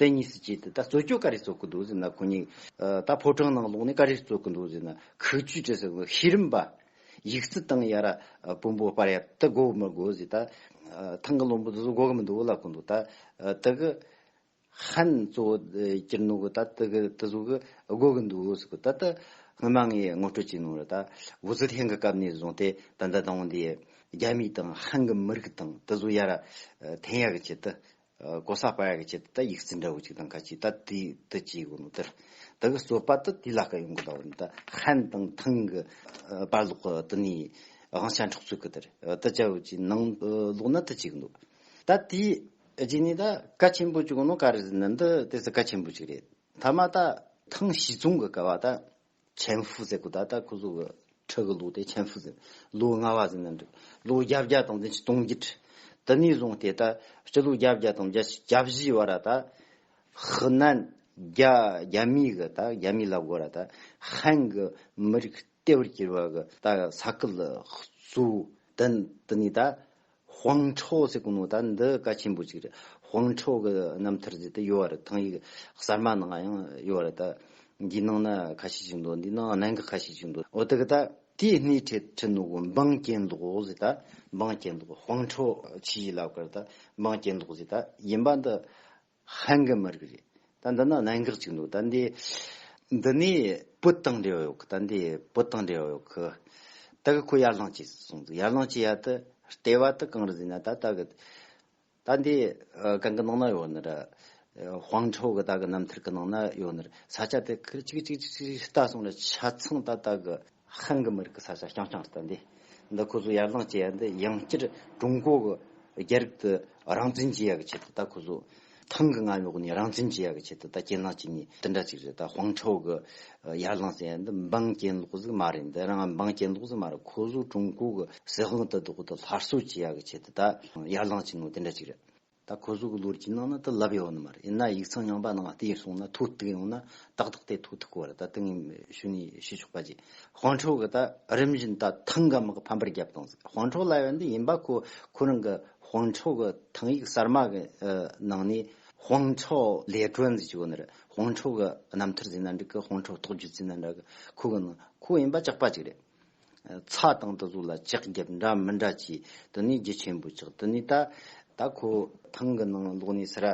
དེ་གཉིས་སུ་བྱས་ཏེ་ད་རྩོད་རྒྱུ་ག་རེ་རྩོད་ཀྱི་འདུག་ཟེར་ན་ཁོ་གཉིས། ད་ཕོ་བྲང་ནང་ལོགས་ནས་ག་རེ་རྩོད་ཀྱི་འདུག་ཟེར་ན་ཁུག་ཆུའི་གྲས་སུ་ཤེས་རིམ་པ། ཡིག་རྩིས་སྟངས་ཡ་ར་བོན་པོ་དཔར་ཡ་དེ་དགོས་མི་དགོས་ཟེར་ད། ཐང་གི་བློན་པོ་དེ་ཚོ་དགོས་ཀྱི་མི་འདུག་ལབ་ཀྱི་འདུག་ད། དེ་གི་ཧན་གཙོ་བོ་སྤྱིར་ནོར་གི་ད་དེ་གི་དེ་ཚོ་གི་དགོས་ཀྱི་འདུག་ཟེར་གི་ད་ད། སྔོན་མ་ངས་ངོ་སྤྲོད་བྱས་ནོར་ད་ཝུ་ཙི་ཐན་གྱི་སྐབས་ནས་བཟུང་སྟེ་ད་ལྟ་དང་བོ་འདི་རྒྱ་མི་དང་ཧན་གྱི་མི་རིགས་དང་དེ་ཚོ་ཡ་ར་ཐན་ཡ་གི་ཆེད་དུ་ཀོ་ས་པ་ཡ་གི་ཆེད་དུ་ད་ཡིག་རྩིས་འདྲ་བོ་ཅིག་དང་ཁ་ཅིག་ད་དེ་དེ་བྱས་དགོས་ནོ་དེར་དེ་གི་རྩོད་པ་དུ་དེ་ལ་ཀ་ཡོང་གི་ད་བ་ནི་ད་ཧན་དང་ཐང་གི་པར་ལོག་གི་དུ་ནི་དབང་ཆ་འཕྲོག་རྩོད་གི་དེར་དུ་བྱ་བ་ཅིག་ནང་ལོག་ན་དུ་བྱས་གི་འདུག་ད་དེ་རྗེས་ནས་ད་ཀ་ཆེན་པོ་ཅིག་ཡོང་ནོ་ཀ་རེ་ཟི་ནི་འདི་དེ་ཟི་ཀ་ཆེན་པོ་ཅིག་རེད་ཐ་མ་ད་ཐང་ཞི་ཙུང་གི་ཀ་བ་ད་ཆན་ཧྥུ་ཟེར་གོ་ད་ལྟ་ཁོ་ཚོ་གི་ཁྲི་གི་ལུགས་དེ་ཆན་ཧྥུ་ཟེར། ལུགས་ལྔ་བ་ཟེར་ན་འགྲིག། ལུགས་བརྒྱ་བརྒྱ་དང་འཛིན་ཆེན་སྟོང་བརྒྱད་ཁྲི། དེ་ནས་བཟུང་སྟེ་ད་སྤྱི་ལུགས་བརྒྱ་བརྒྱ་དང་བརྒྱ་བཞིའི་བར་ད་ཧི་ནན་རྒྱ་རྒྱ་མིའི་གི་ད་རྒྱ་མིའི་ལབ་གོ་ར་ད་ཧན་གི་མི་རིགས་ལྟེ་བར་གྱུར་བ་གི་ད་ས་ཁུལ་གཙོ་བོ་དེ་ནས་ད་ཧྥང་ཁྲའོ་ཟེར་གི་ནོ་ད་འདི་བཀའ་ཆེན་པོ་ཅིག་རེད་ཧྥང་ཁྲའོ་གི་རྣམ་ཐར་ཟེར་དེ་ཡོད་རེད་ཐང་ཡིག་གསར་མ་ནང་ཡང་ཡོད་རེད་ད། འདིའི་ནང་ན་ཁ་ཤས་ཅིག་འདུག་འདིའི་ནང་གནད་འགག་ཁ་ཤས་ཅིག་འདུག་འོ་དེ་གི་ད། དེའི་སྣེ་ཁྲིད་ཁྲིད་ནོ་གོ་འབངས་སྐྱེ་འདོག་ཟེར་ད་འབངས་སྐྱེ་འདོག་ཧྥང་ཁྲའོ་ཕྱི་ཡིག་ལབ་གི་རེད་ད་འབངས་སྐྱེ་འདོག་ཟེར་ད་ཡིན་པ་འདི། ཧན་གི་མི་རིགས་རེད་ད་འདི་ནི་གནད་འགག་ཅིག་འདུག་ད་འདི་འདི་ནས་བོད་དང་འབྲེལ་བ་ཡོད་གི་ད་འདི་བོད་དང་འབྲེལ་བ་ཡོད་གི་ད་གི་ཁོ་ཡར་ལངས་བྱས་སོང་འདུག་ཡར་ལངས་བྱས་ཡ་ད་ལྟེ་བ་ད་གང་རུ་ཟིན་ན་ད་ད་གི་ད་འདི་གང་གི་ནང་ན་ཡོད་ན་ར་ཧོང་ཁྲའོ་གི་ད་གི་རྣམ་ཐར་གི་ནང་ན་ཡོད་ན་ར་ས་ཆ་དེ་ཁིར་ཅིག་ཅིག་ཅིག་ཅིག་ཅིག་ལྟ་སོང་ར་ཆ་ཚང་ད་ད་གི། ཧན་གྱི་མི་རིགས་ཀྱི་ས་ཆ་རྐྱང་རྐྱང་རེད་དེ། འདི་ཁོ་ཚོས་ཡར་ལངས་བྱས་ཡ་འདི་ཡང་བསྐྱར་ཀྲུང་གོ་གི་རྒྱ་རིགས་དེ་རང་བཙན་བྱེད་ཡ་གི་ཆེད་དུ་ད་ཁོ་ཚོ་ཐང་གི་རྔ་ལོག་ནས་རང་བཙན་བྱེད་ཡ་གི་ཆེད་དུ་ད་རྐྱེན་ལངས་བྱེད་ནི་དེ་འདྲ་ཅིག་རེད་ད་ཧུང་ཁྲའོ་གི་ཡར་ལངས་བྱས་ཡ་འདི་འབངས་རྐྱེན་ལོག་ཟིག་མ་རེད་འདི་རང་འབངས་རྐྱེན་ལོག་ཟིག་མ་རེད་ཁོ་ཚོ་ཀྲུང་གོ་གི་སྲིད་དབང་དེ་དོག་དེ་སླར་གསོ་བྱེད་ཡ་གི་ཆེད་དུ་ད་ཡར་ལངས་བྱེད་ནོ་དེ་འདྲ་ཅིག་རེད། ད་ཁོ་ཚོ་གི་ལོ་རྒྱུས་ནང་ན་དེ་ལབ་ཡོད་ནི་མ་རེད་ཡིན་ན་ཡིག་ཚང་ཡངས་པ་ནང་དེ་ཡི་སོང་ན་ཐུགས་གཏུགས་ཡོང་ན་ཏག་ཏག་དེ་ཐུགས་ཐུགས་གོ་ར་ད་དེ་ངས་ཞུ་ནས་ཞུས་ཆོག་པ་གྱིས་ཧོང་ཁྲོ་གི་ད་རིམ་བཞིན་ད་ཐང་ག་མི་གི་ཕམ་པར་རྒྱབ་བཏང་ཟིག་ཧོང་ཁྲོ་ལ་ཡོད་འདི་ཡིན་པ་ཁོ་ཁོ་རང་གི་ཧོང་ཁྲོ་གི་ཐང་ཡིག་གསར་མ་གི་ནང་ནས་ཧོང་ཁྲོ་ལས་གྲོལ་འཛིན་གྱི་ཡོད་ནི་རེད་ཧོང་ཁྲོ་གི་རྣམ་ཐར་འཛིན་ན་འགྲིག་གི་ཧོང་ཁྲོ་ཐོག་བརྒྱུད་འཛིན་ན་འདྲ་གི་ཁོ་གི་ནང་ཁོ་ཡིན་པ་ཅག་པ་གཅིག་རེད། ཚགས་དང་དུ་གཟུགས་ལ་ལྕགས་རྒྱབ་འདྲ་མི་འདྲ་ཅི། དུ་ནི་རྒྱུ་ཆེན་པོ་ཆགས་དུ་ནི་ལྟ། ད་ཁོ་ཐང་གི་ནང་ལོག་ནས་སི་ར།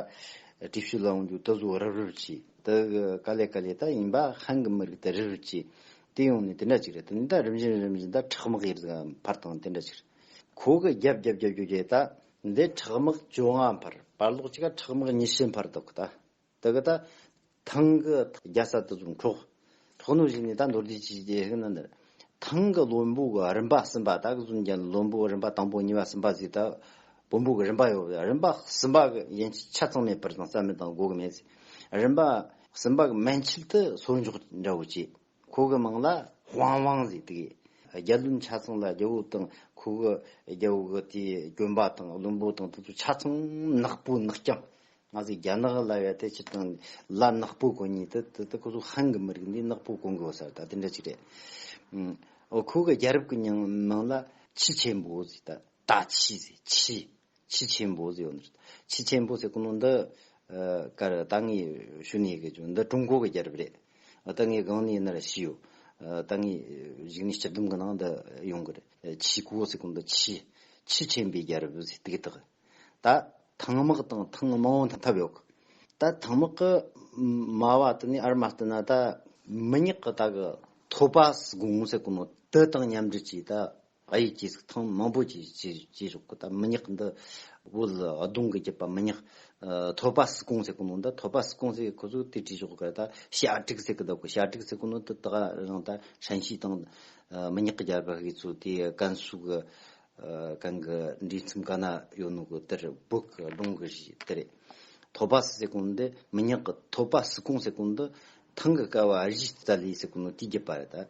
དྲི་ཤུལ་ལ་འོང་རྒྱུ་དུ་གཟུགས་རབ་རིབ་ཅི། དུ་ཀ་ལེ་ཀ་ལེ་ད་ཡིན་པ་ཧན་གི་མི་རིགས་དུ་རིབ་རིབ་ཅི། དེ་ཡོང་ནས་དེ་འདྲ་ཅིག་རེད་དུ་ནི་ད་རིམ་བཞིན་རིམ་བཞིན་ད་ཁྲག་དམག་ཡེར་ཟ་འཕར་དང་དེ་འདྲ་ཅིག་རེད། ཁོ་གི་རྒྱབ་རྒྱབ་རྒྱབ་རྒྱུ་རྒྱ་ཡིས་ད། འདི་ཁྲག་དམག་བཅོ་ལྔ་འཕར། བར་ལོག་ཅིག་ཁྲག་དམག་ཉི་ཤུ་འཕར་འདུག་ད། ད་གི་ད། ཐང་གི་རྒྱ་ས་དུ་ཙུམ་འཁྲོག། འཁྲོག་ནུ་ཞིག་ནི་ད་མདོར་དུས་ཀྱི་ཀྱི་ཧི་ན་ནི། ཐང་གི་ལོ་འབུག་གི་རིམ་པ་གསུམ་པ་ད་གི་ཙུམ་ཀྱང་ལོ་འབུག་རིམ་པ་དང་པོ་གཉིས་པ་གསུམ་པ་ཟིག་ད། བུ་འབུག་གི་རིམ་པ་ཡོད་པ་ཡ་རིམ་པ་གསུམ་པ་གི་ཡན་ཆད་ཆ་ཚང་མེད་པར་དང་རྩ་མེད་དང་དགོ་གི་མེད་ཟིག། རིམ་པ་གསུམ་པ་གི་མན་ཆད་དུ་སོར་འཇོག་འདྲ་བོ་བྱེད། ཁོ་གི་མིང་ལ་ཧྥང་ཝང་ཟིག་ཏི། རྒྱལ་བློན་ཆ་ཚང་ལ་རྒྱལ་བོ་དང་ཁོ་གི་རྒྱལ་བོ་གི་དེའི་གྱོན་པ་དང་བློན་པོ་དང་དེ་ཚོ་ཆ་ཚང་ནག་པོ་ནག་རྐྱང། ང་ཚོ་རྒྱ་ནག་ལ་བས་ཏེ་སྤྱིར་བཏང་ལ་ནག་པོ་གོ་ཉིད་དེ་དེ་ཁོ་ཚོ་ཧན་གི་མི་རིགས་འདི་ནག་པོ་གོ་འགོ་ཟེར་ད་དེ་འདྲ་ཅིག་རེད། ཁོ་གི་རྒྱལ་རབས་ཀྱི་མིང་ལ་ཆི་ཆེན་པོ་ཟིག་ད་ད་ཆི་ཟིག་ཆི། ཆི་ཆེན་པོ་ཟེར་བ་འདི་རེད། ཆི་ཆེན་པོ་ཟེར་ཀུན་སློང་འདི། ཀར་ཏང་གི་ཞུ་ནས་གི་ཆུ་འདི་ཀྲུང་གོ་གི་རྒྱལ་རབས་རེད། ད་ངའི་སྒང་ནས་ནི་ར་ཤི་ཡོད། ད་ངའི་གཞིག་ནས་སྤྱི་བསྡོམས་གི་ནང་འདི་ཡོང་གི་རེད། ཆི་ཀོ་ཟེར་ཀུན་འདི་ཆི། ཆི་ཆེན་པོའི་རྒྱལ་རབས་ཟེར་དུས་དག། ད་ཐང་དམག་དང་ཐང་དམག་དབང་ཐང་ཐབས་ཡོད་གི། ད་ཐང་དམག་གི་སྨྲ་བ་དེ་ནི་ཨར་མ་ལྟ་ན་ད། མི་ཉག་གི་ད་གི་ཐོ་པ་སི་གུང་ཟེར་ཀུན་སློང་འདི་དང་མཉམ་འབྲེལ་གྱིས་ད་ང་ཡི་སྐྱེས་གཟུགས་ཐང་མང་པོ་ཅིག་ཅེས་རོ་ཀུ་ད་མི་ཉག་འདི་དབུལ་གདུང་གི་རྒྱུད་པ་མི་ཉག། ཐོ་པ་སི་ཀོང་ཟེར་ཀུ་ནོ་འདི་ཐོ་པ་སི་ཀོང་ཟེར་ཁོ་ཚོས་དེ་བྲིས་ཆོག་གི་རེད་ད་ཤ་ཀྲིག་ཟེར་གི་འདུག་གི་ཤ་ཀྲིག་ཟེར་ཀུ་ནོ་འདི་དག་རང་ད་ཧྲན་ཤིས་དང་མི་ཉག་གི་རྒྱལ་པོ་ཧི་ཚོ་དེ་ཀན་སུའུ་གི་གན་གི་འདྲིས་མཚམས་ག་ན་ཡོད་ནོ་གི་དེར་བོད་གི་གདུང་གི་གཞི་དེ་རེད། ཐོ་པ་སི་ཟེར་ཀུ་ནོ་འདི་མི་ཉག་གི་ཐོ་པ་སི་ཀོང་ཟེར་ཀུ་ནོ་འདི་ཐང་གི་སྐལ་བ་གཞི་རྩ་ལས་ཟེར་ཀུ་ནོ་དེའི་རྒྱུད་པ་རེད་ད།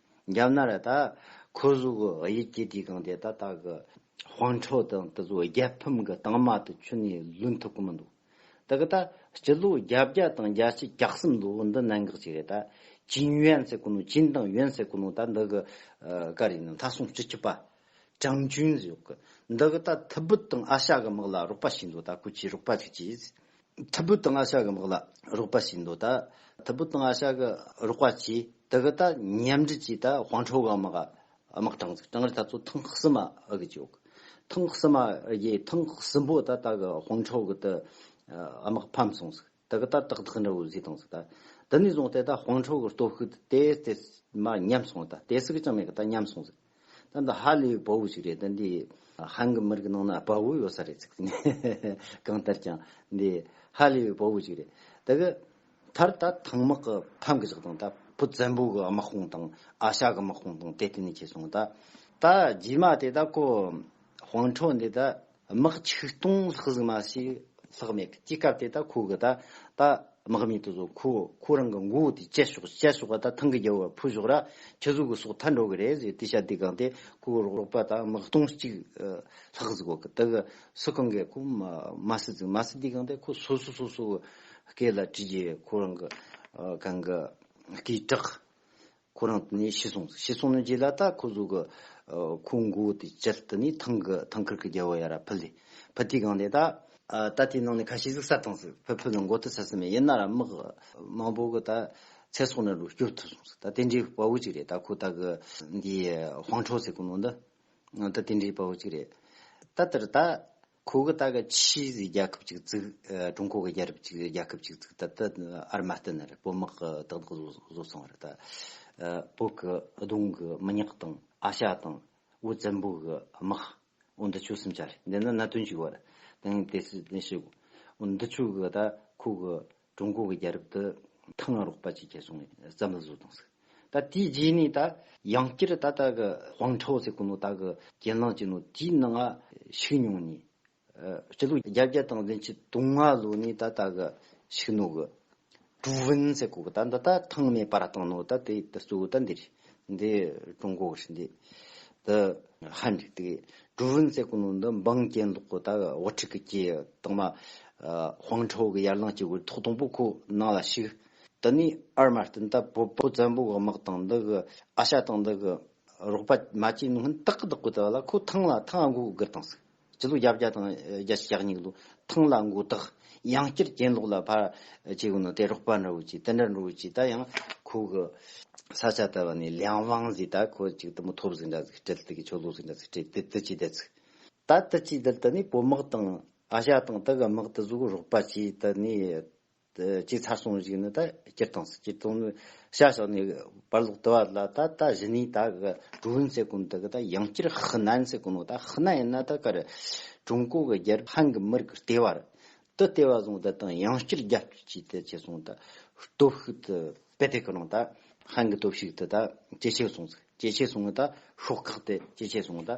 རྒྱབ་ན་རེ་ད། ཁོ་གཟུགས་གི་དབྱིབས་སྐྱེ་དུས་གང་དེ་ད་ལྟ་གི། དཔང་འཕྲོ་དང་དེ་ཚོ་རྒྱལ་ཕམ་གི་དྭངས་མ་དུ་ཆུ་ནས་ལུད་ཐུབ་ཀི་མི་འདུག་ད་གི་ད། སྤྱི་ལོ་བརྒྱ་བརྒྱ་དང་བརྒྱ་ཆའི་གྱ་གསུམ་ལོའི་འདི་གནད་འགག་ཅིག་རེད་ད། ཅིན་ཡོན་ཟེར་ཀི་ནོ་ཅིན་ཏང་ཡོན་ཟེར་ཀི་ནོ་ད་འདི་གི། ཀ་རེ་ནི་ལྷ་སྲུང་སྤྱི་ཁྱབ་པ། ཀྲང་ཅུན་ཟེར་ཡོད་གི། འདི་གི་ད་ཐི་བུད་དང་ཨ་ཤ་གི་དམག་ལ་རོགས་པ་བྱས་འདུག་ད་ཁོ་ཅིའི་རོགས་པ་ཅིག་བྱས། ཐུ་བུ་ཏི་ང་ཤ་གི་དམག་ལ་རོགས་པ་བྱེད་འདོད་ད། ཐུ་བུ་ཏི་ང་ཤ་གི་རོགས་པ་བྱས་དེ་གི་ད་མཉམ་འབྲེལ་གྱིས་ད་ཧོང་ཁྲོ་གི་དམག་གི་དམག་གྲངས་བཙུགས་གྲངས་རེ་ད་ཚོ་ཐེངས་གསུམ་མ་གི་བྱས་ཡོད། ཐེངས་གསུམ་མ་གིས་ཐེངས་གསུམ་པོ་ད་ད་གི་ཧོང་ཁྲོ་གི་ད་དམག་ཕམ་སོང་ཟིག་དེ་གི་ད་ཏག་ཏག་འདྲ་བོ་བཟོས་བཏང་ཟིག་ད། དེ་ནས་བཟུང་སྟེ་ད་ཧོང་ཁྲོ་གི་སྟོབས་ཤུགས་ད་དེ་དེ་མ་ཉམས་སོང་ད་དེ་སུག་ཀྱང་མེད་གི་ད་ཉམས་སོང་ཟིག། ད་འདི་ཧ་ལས་བོ་བོ་ཞིག་རེད་ད་འདི་ཧན་གི་མི་རིགས་ནང་ན་བོ་བོ་ཡོད་ས་རེད་ཚིག་ཚིག་གང་ལྟར་ཀྱང་འདི་ཧ་ལས་བོ་བོ་ཞིག་རེད་ད་གི་མཐར་ད་ཐང་མག་གི་ཐང་གི་ཞག་དང་ད་བུ་བཙན་པོ་གི་དམག་དཔུང་དང་ཨ་ཤ་གི་དམག་དཔུང་དང་དེ་ལྟེ་ནས་ཁྱེར་སོང་ད་ད་རྗེས་མ་དེ་ད་ཁོ་དཔོན་འཕྲོག་འདི་ད། དམག་ཆིག་སྟོང་ལྷག་གཟིགས་མ་ཞིག་ལྷག་མེད་གི་སྐྱིད་སྐབས་དེ་དག་ཁོ་གི་ད་ད་དམག་མི་དེ་ཚོ་ཁོ་ཁོ་རང་གི་མགོ་བོ་དེ་བཅད་ཤོག་བཅད་ཤོག་ག་ད་ཐང་གི་རྒྱལ་བོ་བ་ཕུ་ཤོག་ར་ཁྱི་གཟུགས་གི་སོག་ཐར་འགྲོ་གི་རེད་ཟེར་དེ་ཤ་དེ་གང་དེ་ཁོ་གི་རོགས་པ་ད་དམག་སྟོང་གཅིག་ལྷག་གཟིགས་གོ་གི་ད་གི་སུ་གང་གི་ཁོ་མ་སི་གཟིགས་མ་སི་དེ་གང་དེ་ཁོ་སོ་སོ་སོ་སོ་གི་སྐེ་ལ་དྲིས་ཀྱི་ཁོ་རང་གི་གང་གི་སྐེའི་བྲག་ཁོ་རང་དེ་ནས་ཤི་སོང། ཤི་སོང་ནས་རྗེས་ལ་ད་ཁོ་གཟུགས་ཀྱི། ཁོ་མགོ་དེ་ཅེར་དེ་ནས་ཐང་གི་ཐང་ཁུར་གྱི་རྒྱལ་བོ་ཡ་ར་ཕུལ། ཕུལ་དེའི་སྒང་ནས་ད། ད་དེའི་ནང་ནས་ཁ་ཤས་གཟིགས་ས་དང་ཟིག་ཕུལ་ཕུལ་ནས་མགོ་དེ་ཚ་ས་མེད་ཡིན་ན་ར་དམག། མང་པོ་གི་ད། ཚེ་སྲོག་ནས་རུ་སྐྱོབ་ཐུབ་སོང་ཟིག་ད་དེ་འདྲའི་དཔའ་བོ་ཅིག་རེད་ད་ཁོ་ད་གི། འདིའི་ཧོང་ཁྲོ་ཟེར་གི་ནང་དུ། ད་དེ་འདྲའི་དཔའ་བོ་ཅིག་རེད། ད་དེར་ད། ཁོ་གི་ད་གི་ཆིས་ཟི་རྒྱལ་ཁབ་ཅིག་བཙུགས། ཀྲུང་གོ་གི་རྒྱལ་རབས་ཅིག་རྒྱལ་ཁབ་ཅིག་བཙུགས་ད་ད་ཨར་མ་ཏི་ནི་རེད་བོད་དམག་གི་དག་དག་བཟོ་བཟོ་སོང་རེད་ད། བོད་གི་གདུང་གི་མི་ཉག་དང་ཨ་ཤ་དང་འུ་བཙན་པོ་གི་དམག་འུ་འདི་ཆོས་སུམ་ཅར་འདི་ནི་གནད་དོན་ཅིག་བར་དེང་དེ་སུ་དེ་ཤི་འུ་འདི་ཆོས་གི་ད་ཁོ་གི་ཀྲུང་གོ་གི་རྒྱལ་རབས་དུ་ཐང་ང་རོག་པ་ཅིག་ཁྱེར་སོང་ནས་བཙན་པོ་བཟོས་དང་ཟིག། ད་དེའི་རྗེས་ནས་ད་ཡང་བསྐྱར་ད་ལྟ་གི་ཝང་ཁྲའོ་ཟེར་དགུ་ནོ་ད་གི་གྱེན་ལངས་ཅིག་ནོ་དེའི་ནང་ང་ཞུགས་མྱོང་ནས། སྤྱི་ལོ་བརྒྱ་བརྒྱ་དང་བདུན་ཅུ་དུང་ང་ལོ་ནས་ད་ལྟ་གི་ཞུགས་ནོ་གི། ཀྲུའུ་ཝུན་ཟེར་དགུ་གི་ད་འདི་ད་ཐང་མེད་པ་ར་དང་ནོ་ད་དེ་དུ་གཙོ་བོ་ད་འདི་རེད། འདི་ཀྲུང་གོ་གསུངས་འདི་འདི་ཧ་འགྲིག་འདུག་ཀྲུའུ་ཝུན་ཙེ་སྐུ་ནོར་འདི་འབངས་སྐྱེས་འདུག་གོ་ད་དབུ་ཁྲིད་ཀྱི་སྐྱེས་དང་མ་ཧྥང་ཁྲའོ་གི་ཡར་ལངས་སྐྱེས་དགོས་ཐོག་དང་པོ་ཁོ་ནང་ལ་ཞུགས་འདི་ནི་ཨར་མ་སྟོན་ད་བོད་པོ་བཙན་པོ་གི་དམག་དང་འདི་གི་ཨ་ཤ་དང་འདི་གི་རོགས་པ་མ་བྱས་ནུ་ཧན་ཏག་ཏག་གོ་ད་ལ་ཁོ་ཐང་ལ་ཐང་འགོ་དགར་དང་ཟིག་སྤྱི་ལོ་གྱ་བརྒྱ་དང་བརྒྱ་ཆ་གྱ་གཉིས་ལོ་ཐང་ལ་མགོ་བཏགས་ཡང་བསྐྱར་གྱེན་ལོག་ལ་ཕར་བྱས་ཡོང་ན་དེ་རོགས་པ་འདྲ་བོ་ཅིག་དེ་འདྲ་འགྲོ་བོ་ཅིག་ད་ཡང་ཁོ་གི་ས་ཆ་དེ་བ་ནས་ལིའང་ཝང་ཟིག་ད་ཁོ་ཅིག་དུ་མོ་ཐོབ་ཟིག་འདྲ་ཟིག་སྤྲེལ་དེ་གི་ཆོ་ལོ་ཟིག་འདྲ་ཟིག་སྤྲེལ་དེ་དུ་ཅིག་བསྡད་ཟིག་ད་དུ་ཅིག་བསྡད་དེ་ནས་བོད་དམག་དང་ཨ་ཞ་དང་དེ་གི་དམག་དུ་ཟུག་རོགས་པ་ཅིག་དེ་ནས་ཅིག་ཚར་སོང་ཞིག་ནི་ད་སྤྱིར་བཏང་སྤྱིར་བཏང་ནི་བྱ་ཞོག་ནས་བར་ལོག་དུ་བ་ལ་ད་ད་བཞི་ནས་ད་གི་ཀྲུའུ་ཝུན་ཟེར་གོང་དུ་གི་ད་ཡང་སྤྱིར་ཧི་ནན་ཟེར་གོང་ནོ་ད་ཧི་ནན་ཡིན་ན་ད་གར་ཀྲུང་གོ་གི་རྒྱལ་ཧན་གི་མི་རིགས་ལྟེ་བར་དུ་ལྟེ་བ་བཟུང་ད་དང་ཡང་སྤྱིར་རྒྱ་སྤྱི་ཅིག་ད་བྱས་སོང་ད་སྟོབས་ཤུགས་དུ་བེད་དེ་གི་ནང་ད་ཧན་གི་སྟོབས་ཤུགས་དུ་ད་ཇེ་ཆེ་སོང་ཟིག་ཇེ་ཆེ་སོང་ད་ཤོག་ཁག་དེ་ཇེ་ཆེ་སོང་ད།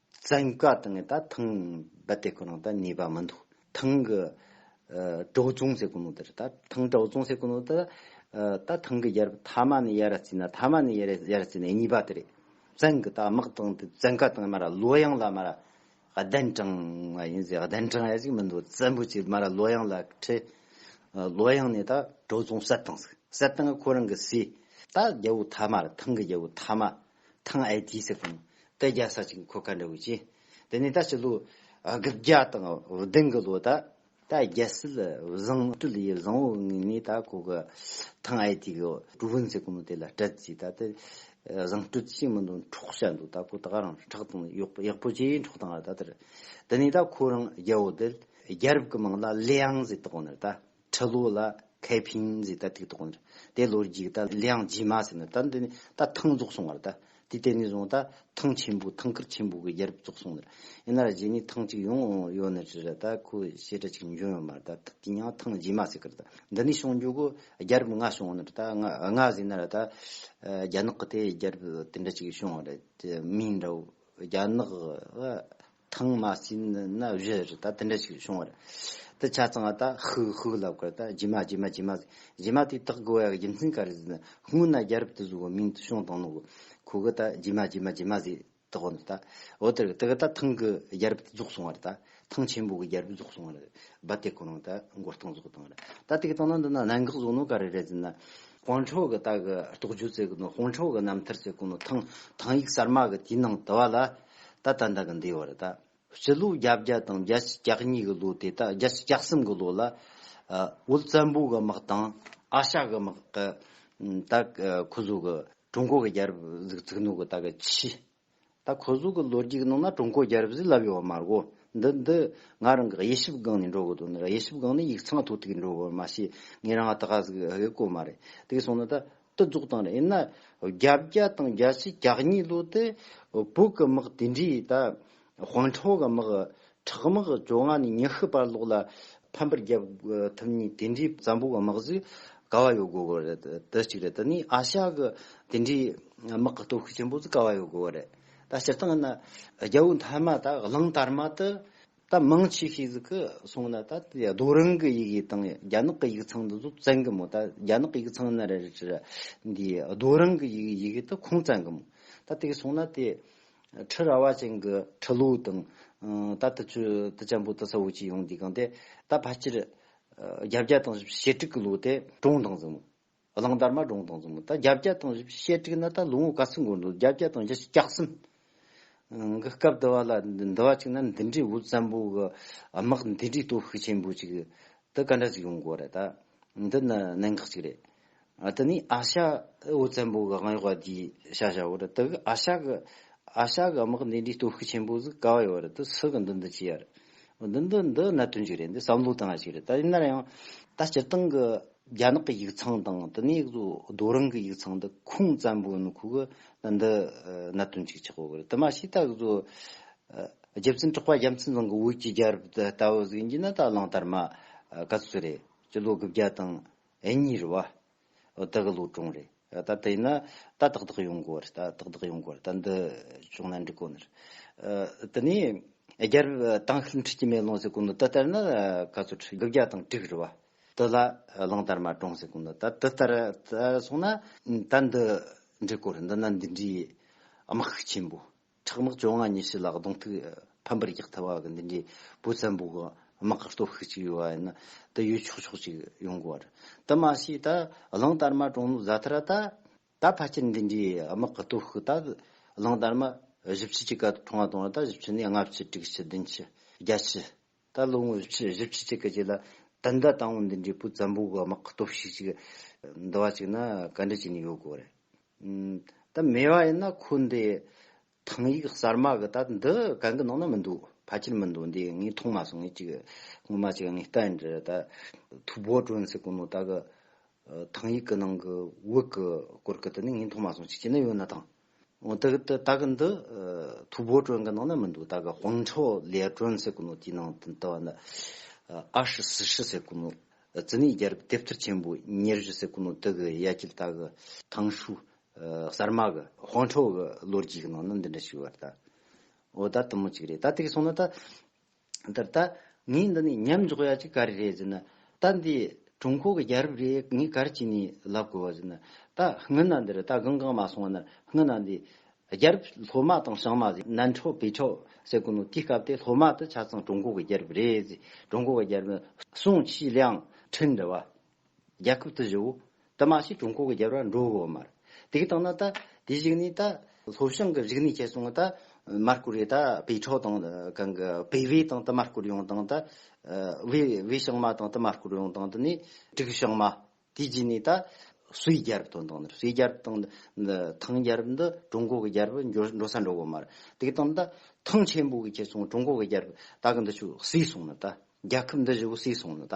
བཙན་བཀའ་དང་ནི་ད་ཐང་རྦད་དེ་ཁོ་ན་ད་ནུས་པ་མི་འདུག་ཐང་གི་གྲོགས་བཙོང་ཟེར་གོ་ནོ་དེར་ད་ཐང་གྲོགས་བཙོང་ཟེར་གོ་ནོ་དེ་ད་ཐང་གི་ཡར་ཐ་མ་ནི་ཡར་རྩིས་ན་ཐ་མ་ནི་ཡར་ཡར་རྩིས་ན་གཉིས་པ་དེ་རེད་བཙན་གི་ད་དམག་དང་དེ་བཙན་བཀའ་དང་མ་ར་གློ་གཡང་ལ་མ་ར་གདན་དྲངས་བ་ཡིན་ཟེར་གདན་དྲངས་ཡ་ཞིག་མི་འདུག་བཙན་པོ་ཆེ་མ་ར་གློ་གཡང་ལ་ཁྲི་གློ་གཡང་ནི་ད་གྲོགས་བཙོང་གསལ་བཏང་ཟིག་གསལ་བཏང་གི་ཁོ་རང་གི་སྲས་ད་རྒྱལ་བོ་ཐ་མ་ར་ཐང་གི་རྒྱལ་བོ་ཐ་མ་ཐང་ཨའི་དུས་སུ་དང་སྐད་རྒྱག་ས་ཅིག་མཁོ་ག་འདྲ་བོ་བྱེད། དེ་ནས་ད་ཕྱི་ལོ་དགུ་བརྒྱ་དང་ལོ་དང་གི་ལོ་ད་ད་རྒྱལ་སྲིད་བཟང་སྤྲུལ་ཡི་བཟང་བོ་ངེས་ནས་ད་ཁོ་གི་ཐང་ཨའི་དུས་གི་གྲུ་བོན་ཟེར་གོ་ནོ་དེ་ལ་སྤྲད་རྩིས་ད་དེ་བཟང་སྤྲུལ་ཅིག་མི་འདུག་འཕྲོག་བྱ་འདུག་ད་ཁོ་ད་རང་ཁྲག་དང་གཡོག་ཡག་པོ་ཅིག་འཕྲོག་དང་ད་དེར་དེ་ནས་ད་ཁོ་རང་རྒྱལ་བོ་དེ་རྒྱལ་རབས་ཀི་མིང་ལ་ལི་ཨང་ཟེར་དགོ་ནི་ད། ཁྲི་ལོ་ལ་ཁའི་ཕིང་གཟིགས་ད་ཐིག་ཐོག་ནས་དེ་ལོ་རྒྱུགས་ད་ལིའང་ཇི་མ་ཟེར་ན་ད་འདི་ནས་ད་ཐང་རྫོགས་སོང་བར་ད་དེ་དེ་ནས་བཟུང་ད་ཐང་ཆེན་པོ་ཐང་ཁུལ་ཆེན་པོ་གི་རྒྱལ་རབས་རྫོགས་སོང་ནས་ཡིན་ན་ར་རྗེས་ནས་ཐང་གཅིག་ཡོང་ཡོད་ནི་རེད་ད་ཁོ་བཤད་གྲ་གཅིག་འབྱུང་ཡོད་མ་རེད་ད་དེ་ཡང་ཐང་ཇི་མ་ཟེར་ཀི་རེད་ད་འདི་ནས་བྱུང་འཇུག་གི་རྒྱལ་རབས་ལྔ་བྱུང་ནི་རེད་ད་ལྔ་ཟེར་ན་ར་ད་རྒྱ་ནག་གི་དེ་རྒྱལ་རབས་དེ་འདྲ་གཅིག་བྱུང་བ་རེད་མིང་འདྲ་བོ་རྒྱ་ནག་གི་ཐང་མ་སྲིན་ནི་ན་བཞི་རུ་ད་དེ་འདྲ་ཞིག་བྱུང་བ་རེད། དེ་ཆ་ཚང་བ་ད་ཧུག་ཧུག་ལབ་ཁར་ད་རྗེས་མ་རྗེས་མ་རྗེས་མ་ཟེར། རྗེས་མ་དེ་དག་གི་བོད་ཡག་རྒྱུ་མཚན་ག་རེ་ཟེར་ན་སྔོན་ན་རྒྱ་རབས་དུ་བཟོ་བའི་མིང་དུ་བྱུང་དང་ནོ་གོ། ཁོ་གི་ད་རྗེས་མ་རྗེས་མ་རྗེས་མ་ཟེར་དག་བ་ནི་ད་འོ་དེར་དེ་གི་ད་ཐང་གི་རྒྱ་རབས་དུ་རྫོགས་སོང་བ་རེད་ད། ཐང་ཆེན་པོ་གི་རྒྱ་རབས་རྫོགས་སོང་བ་རེད། རྦ་དེ་གོ་རང་ད་མགོ་སྟངས་བཟོ་སྟངས་རེད། ད་དེ་གི་སྟངས་ན་འདི་ན་གནད་འགག་བཟོ་ནོ་ག་རེ་རེད་ཟེར་ན། དཔོན་ཕྲུག་གི་ད་གི་རྟོགས་བརྗོད་བཙལ་གི་ནོ་དཔོན་ཕྲུག་གི་རྣམ་ཐར་བཙལ་གི་ནོ་ཐང་ཐང་ཡིག་གསར་མ་གི་དེའི་ནང་དུ་བ་ལ། ད་ལྟ་འདི་གི་འདས་བར་ད། སྤྱི་ལོ་བརྒྱ་བརྒྱ་དང་བརྒྱད་ཅུ་གྱ་གཉིས་གི་ལོ་དེ་དག་བརྒྱད་ཅུ་གྱ་གསུམ་གི་ལོ་ལ། འོད་བཙན་པོ་གི་དམག་དང་ཨ་ཤ་གི་དམག་གི། ད་གི་ཁོ་ཟོ་གི་ཀྲུང་གོ་གི་རྒྱལ་རབས་གཟིགས་ཚིག་ནོ་གི་ད་གི་ཆི། ད་ཁོ་ཟོ་གི་ལོ་རྒྱུས་ཀྱི་ནང་ན་ཀྲུང་གོ་རྒྱལ་རབས་ཟིག་ལབ་ཡོད་བ་མ་རྒོ། འདི་འདི་ང་རང་གི་དབྱེ་ཞིབ་སྒང་ནས་འགྲོ་གི་འདུག་འདི་དབྱེ་ཞིབ་སྒང་ནས་ཡིག་ཚང་ཐོག་ཐིག་འགྲོ་གི་མ་ཤེས་ངས་རང་ཨ་ད་ག་ཟིག་གི་གོ་མ་རེད་དེ་གི་སོང་ན་ད་ཏུ་རྫོགས་དང་རེད་ན་བརྒྱ་བརྒྱ་དང་བརྒྱ་ཆའི་གྱ་གཉིས་ལོ་དེ་བོད་ཀྱི་དམག་དེ་འདྲའི་ད་དཔོན་ཁྲོ་ག་དམག་ཁྲག་དམག་བཅོ་ལྔ་ནས་ཉི་ཤུ་བར་ལོག་ལ་ཕམ་པར་རྒྱབ་ཐུབ་ཉིན་དེ་འདྲའི་བཙན་པོ་གི་དམག་ཟིག་ག་བ་ཡོད་དགོས་གི་རེད་དེ་གཅིག་རེད་དེ་ནས་ཨ་ཤ་གི་དེ་འདྲའི་དམག་གི་སྟོབས་ཤུགས་ཆེན་པོ་ཟིག་ག་བ་ཡོད་དགོས་གི་རེད་ད་སྤྱིར་བཏང་ན་རྒྱལ་པོ་མཐའ་མ་ད་གླིང་དར་མ་དུ་ད་མང་ཆེ་ཤོས་ཟིག་གི་གསུང་ན་ད་རྡོ་རིང་གི་ཡིག་དབྱིབས་དང་རྒྱ་ནག་གི་ཡིག་ཚང་དུ་ཟུག་བཙན་གི་མོད་ད་རྒྱ་ནག་ཡིག་ཚང་ནི་རེད་རེད་ཅེས་འདི་རྡོ་རིང་གི་ཡིག་ཡིག་དབྱིབས་དུ་ཁུངས་བཙན་གི་མོད་ད་དེ་གི་གསུང་ན་དེ་ཁྲི་ར་བ་ཅན་གི་ཁྲི་ལོའུ་དང་ད་དུ་ཆུ་དུ་ཅན་པོ་དུ་ས་བོ་ཅི་ཡོང་འདི་གང་དེ་ད་ཕ་སྤྱིར་རྒྱ་བརྒྱ་དང་ཞེ་དྲུག་གི་ལོ་དེ་གྲོངས་དང་ཟིག་མོད། གླང་དར་མ་སྒྲུང་དང་མཚུངས་ད་བརྒྱ་བརྒྱ་དང་བཞི་བཞི་བཤད་ཁྲིགས་ན་ད་ལོ་ངོ་དགའ་ཚིག་འགོར་འདུག་བརྒྱ་བརྒྱ་དང་བཞི་བཞི་བརྒྱག་གསུམ་གི་སྐབས་དུ་བ་ལ་འདི་བ་ཅིག་ན་འདི་འདྲའི་འུ་བཙན་པོ་གི་དམག་འདི་འདྲའི་སྟོབས་ཤུགས་ཆེན་པོ་ཅིག་ད་ག་འདྲ་ཞིག་ཡོང་དགོས་རེད་ད་འདི་ནི་གནད་འགག་ཅིག་རེད་དེ་ནས་ཨ་ཤ་འུ་བཙན་པོ་གི་དབང་ཡོག་བ་འདིའི་ཤ་ཤ་བོ་རེད་དེ་གི་ཨ་ཤ་གི་ཨ་ཤ་གི་དམག་འདི་འདྲའི་སྟོབས་ཤུགས་ཆེན་པོ་ཟིག་ག་བ་ཡོད་རེད་དེ་སུ་གི་འདི་འདི་བྱས་ཡ་རེད་འདི་འདི་འདི་གནད་དོན་ཅིག་རེད་འདི་བསམ་བློ་བཏང་ཡ་ཅིག་རེད་ད་ཡིན་ན་ཡང། ད་སྤྱིར་བཏང་གི་རྒྱ་ནག་གི་ཡིག་ཚང་དང་དེ་ནས་རྡོ་རིང་གི་ཡིག་ཚང་དུ་ཁུངས་བཙན་པོ་ཡིན་ཁུག་འདི་གནད་དོན་གཅིག་ཆགས་ཡོད་དེ་མ་ཤེས་ད་གཟོད་རྒྱལ་བཙུན་གྲགས་པ་རྒྱ་མཚན་ཚང་གི་འོད་ཀྱི་རྒྱལ་རབས་དེ་ལྟ་བུ་ཟིག་ཡིན་གྱི་ན་ད་གླང་དར་མ་ག་ཚོད་རེད་སྤྱི་ལོ་དགུ་བརྒྱ་དང་གཉིས་རེད་བ་དེ་གི་ལོ་གྲངས་རེད་ད་དེ་ཡིན་ན་ད་དག་དག་ཡོང་དགོས་རེད་ད་དག་དག་ཡོང་དགོས་རེད་ད་འདི་བྱུང་ན་འགྲིག་གོ་ནི་རེད་དེ་ནས་རྒྱལ་རབས་དང་ཤུལ་འཁྲིག་གྱི་མེ་ལོང་ཟེར་གོ་ནི་དེ་ལྟར་ན་ག་ཚོད་དགུ་བརྒྱ་དང་དྲུག་རེད་བ། དེ་ལ་གླང་དར་མ་དྲོངས་ཟེར་གོ་ནི་ད་དེ་ལྟར་སོང་ན་ད་འདི་འདྲའི་སྐོར་འདི་ན་འདི་འདྲའི་དམག་ཤུགས་ཆེན་པོ་ཁྲག་དམག་བཅོ་ལྔ་ཉི་ཤུ་ལ་གདོང་ཐུག་ཕམ་པར་རྒྱག་ཐུབ་པ་གི་འདི་འདྲའི་བུ་བཙན་པོ་གི་དམག་གི་སྟོབས་ཤུགས་ཅིག་ཡོད་པ་ཡིན་ན་དེ་ཡོད་ཆོག་ཆོག་ཅིག་ཡོང་དགོས་པ་རེད་དེ་མ་ཤེས་ད་གླང་དར་མ་དྲོངས་ནོ་ཟ་ཐུབ་ར་ད་ད་ཕལ་ཆེར་འདི་འདྲའི་དམག་གི་སྟོབས་ཤུགས་ད་གླང་དར་མ་བཞི་བཅུ་གཅིག་ག་དྲོངས་བ་དང་ད་བཞི་བཅུ་ནས་ལྔ་བཅུ་དྲུག་བཅུ་བདུན་བཅུ་བརྒྱ་བཅུ་ད་ལོ་ངོ་བཞི་བཅུ་གཅིག་གི་རྗེས་ལ་ད་ལྟ་ཏང་ཨུ་འདི་འདྲའི་པུ་ཙམ་པོ་གོ་དམག་གི་སྟོབས་ཤུགས་ཅིག་འདུ་བ་ཅིག་ན་ག་འདྲ་བྱས་ནས་ཡོད་དགོས་རེད། ད་མེད་པ་ཡིན་ན་ཁོ་འདི་ཐང་ཡིག་གསར་མ་གི་ད་འདི་གང་གི་ནང་ན་མི་འདུག་ཕལ་ཆེར་མི་འདུག་འདི་ངས་མཐོང་མ་སོང་ངས་ཅིག་སྔོན་མ་ཅིག་ངས་ལྟ་ཡིན་དྲི་ད་ཐུ་བོ་ཀྲོན་སི་ཀུ་ནོ་ད་གི་ཐང་ཡིག་གི་ནང་གི་དབུགས་གི་སྐོར་གི་དེ་ནི་ངས་མཐོང་མ་སོང་ཅིག་བྱས་ན་ཡོད་ན་ཐང། ཨོ་ད་གི་ད་གི་འདི་ཐུ་བོ་ཀྲོན་གི་ནང་ན་མི་འདུག་ད་གི་ཧོང་ཁྲའོ་ལེ་ཀྲོན་ཟེར་གི་ནོ་དེའི་ནང་དུ་ད་བ་ན་ཨ་ཧྲི་སི་ཧྲི་ཟེར་གི་ནོ་ཛི་ནི་རྒྱལ་རབས་དེབ་ཐེར་ཆེན་པོ་ཉེར་བཞི་ཟེར་གི་ནོ་དེ་གི་ཡ་གྱལ་ད་གི་ཐང་ཧྲུའུ་གསར་མ་གི་ཧོང་ཁྲའོ་གི་ལོ་རྒྱུས་གི་ནང་ན་འདི་འདྲ་ཞིག་ཡོད་པ་རེད་ད། ཨོ་ད་དུམ་མོ་གཅིག་རེད་ད་དེ་གི་སོང་ན་ད་འདིར་ད་ངས་འདི་ནས་མཉམ་འཇོག་ཡ་གཅིག་ག་རེ་རེད་ཟེར་ན། ད་འདི་ཀྲུང་གོ་གི་རྒྱལ་རབས་རེད་ངས་ག་རེ་བྱས་ནས་ལབ་དགོས་པ་ཟེར་ན། ད་སྔི་ན་འདིར་ད་གང་གང་མ་སོང་བ་ན་སྔི་ན་འདི་རྒྱལ་རབས་སློབ་མ་དང་ཞང་མ་ཟེར་ནན་ཁྲོ་བེ་ཁྲོ་ཟེར་དགོས་ནོ་དེའི་སྐབས་དེ་སློབ་མ་དེ་ཆ་ཚང་ཀྲུང་གོ་གི་རྒྱལ་རབས་རེད་ཟེར་ཀྲུང་གོ་གི་རྒྱལ་རབས་ནི་སུང་ཆི་ལིའང་ཁྲིན་འདྲ་བ་རྒྱལ་ཁབ་དུ་བཞུགས། དུ་མ་ཞིག་ཀྲུང་གོ་གི་རྒྱལ་བ་འགྲོ་འོང་མར། དེ་གི་སྟེང་ན་ད། དེ་ཞིག་ནི་ད། ལྷོ་བྱང་གི་རིག་གནས་བཅས་སོང་ངོ་ད། མར་ཀུ་རེ་ད། བེ་ཁྲའོ་དང། གང་གི། བེ་བྷེ་དང་དུ་མར་བསྐུར་ཡོང་དང་ད། བེ། བེ་བྱང་མ་དང་དུ་མར་བསྐུར་ཡོང་དང་དུ་ནི། དྲུག་བྱང་མ། དེ་རྗེས་ནས་ད། སུའི་རྒྱལ་བ་དང་དང་ནི་སུའི་རྒྱལ་བ་དང། འདི། ཐང་རྒྱལ་བ་འདི་ཀྲུང་གོ་གི་རྒྱལ་བ་འགྱོ་འགྲོ་ས་འགྲོ་འོང་མར། དེ་གི་སྟེང་ན་ད། ཐང་ཆེན་པོ་གི་བཅས་སོང་ཀྲུང་གོ་གི་རྒྱལ་བ། ད་གི་འདི་བྱུག་སུས་སོང་ན་ད། རྒྱལ་ཁབ་འདི་བཞུགས་སུས་སོང་ན་ད།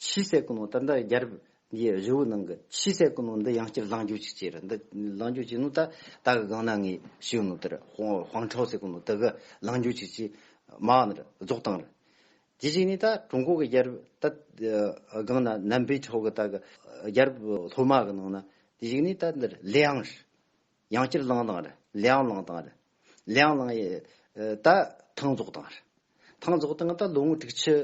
ཕྱིའི་ཟས་ཀུན་ནོ་ད་ལྟ་རྒྱ་རབས་འདིའི་རི་བོའི་ནང་གི་ཕྱིའི་ཟས་ཀུན་ནོ་འདི་ཡང་སྐྱར་ལངས་རྒྱུ་ཅིག་བྱས་ར་འདི་ལངས་རྒྱུ་ཅིག་ནོ་ད་ད་གི་སྒང་ན་ངའི་ཤེའུ་ནོ་དེར་ཧོང་ཁྲའོ་ཟས་ཀུན་ནོ་འདི་གི་ལངས་རྒྱུ་ཅིག་ཅེས་མ་འང་ནར་རྫོགས་བཏང་ར། དེ་བྱས་ནས་ད་ཀྲུང་གོ་གི་རྒྱ་རབས་ད་སྒང་ན་ནམ་པའི་ཁྲོ་གི་ད་གི་རྒྱ་རབས་ལྷོ་མ་གི་ནང་ན་དེ་བྱས་ནས་ད་འདིར་ལེའང་ར། ཡང་སྤྱིར་བླང་དང། ལེའང་བླང་དང། ལེའང་བླང་ཡི། ད། ཐང་རྫོགས་དང། ཐང་རྫོགས་དང་ད་ལོ་ངོ་དྲུག་ཕྱི།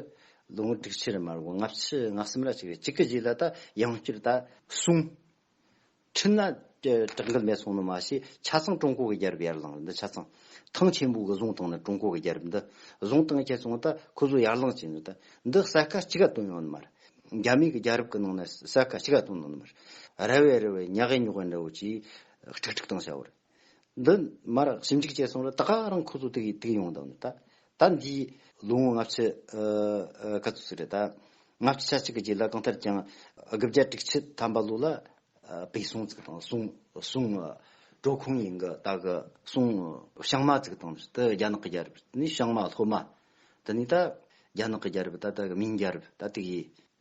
ལོ་ངོ་དྲུག་ཕྱི་རེ་མ་རེད་ལྔ་ཕྱི་ལྔ་གསུམ་ར་གཅིག་རེད་གཅིག་གི་རྗེས་ལ་ད་ཡང་སྤྱིར་ད། གསུམ། ཁྲི་ན། བྲག་འགུལ་མེད་སོང་ནི་མ་ཤེས་ཆ་ཚང་ཀྲུང་གོ་གི་རྒྱལ་རབས་ཡར་ལངས་རེད་འདི་ཆ་ཚང། ཐང་ཆེན་པོ་གི་བཟུང་སྟངས་ནི་ཀྲུང་གོ་གི་རྒྱལ་རབས་འདི། བཟུང་སྟངས་ཁྱེད་ཚོ་ད་ཁོ་ཚོ་ཡར་ལངས་བྱས་ནི་ད། འདི་གསལ་ཁ་གཅིག་ག་བཏོན་ཡོང་ནི་མ་རེད། རྒྱ་མིའི་རྒྱལ་རབས་ཀྱི་ནང་ན་ས་ཁ་ཕྱི་ཁ་དང་ནང་ན་མར་ར་བའི་ར་བའི་ཉག་གཡས་ཉོག་གཡས་འདྲ་བོ་ཅིག་ཁྲིག་ཁྲིག་དང་བྱ་བར། འདི་མར་ཞིབ་འཇུག་བྱས་སོང་ལ་ད་ག་རང་ཁོ་ཚོ་དུག་དུག་ཡོང་དང་ད་ད་འདིའི་ལོ་ངོ་ལྔ་བཅུ་ག་ཚོད་ཟིག་རེད་ད། ལྔ་བཅུ་ཆ་གཅིག་གི་རྗེས་ལ་གང་ལྟར་ཀྱང་དགུ་བརྒྱ་དྲུག་ཅུ་ཐམ་པ་ལོ་ལ་བོད་སོང་ཚིག་དང་སོང་སོང་གྲོ་ཁོང་ཡིན་གི་ད་གི་སོང་བྱང་མ་ཚིག་དང་དེ་རྒྱ་ནག་གི་རྒྱལ་རབས་ནི་བྱང་མ་ལྷོ་མ། དེ་ནས་ད་རྒྱ་ནག་གི་རྒྱལ་རབས་ད་ལྟ་གི་མིང་རྒྱལ་རབས་ད་ལྟའི་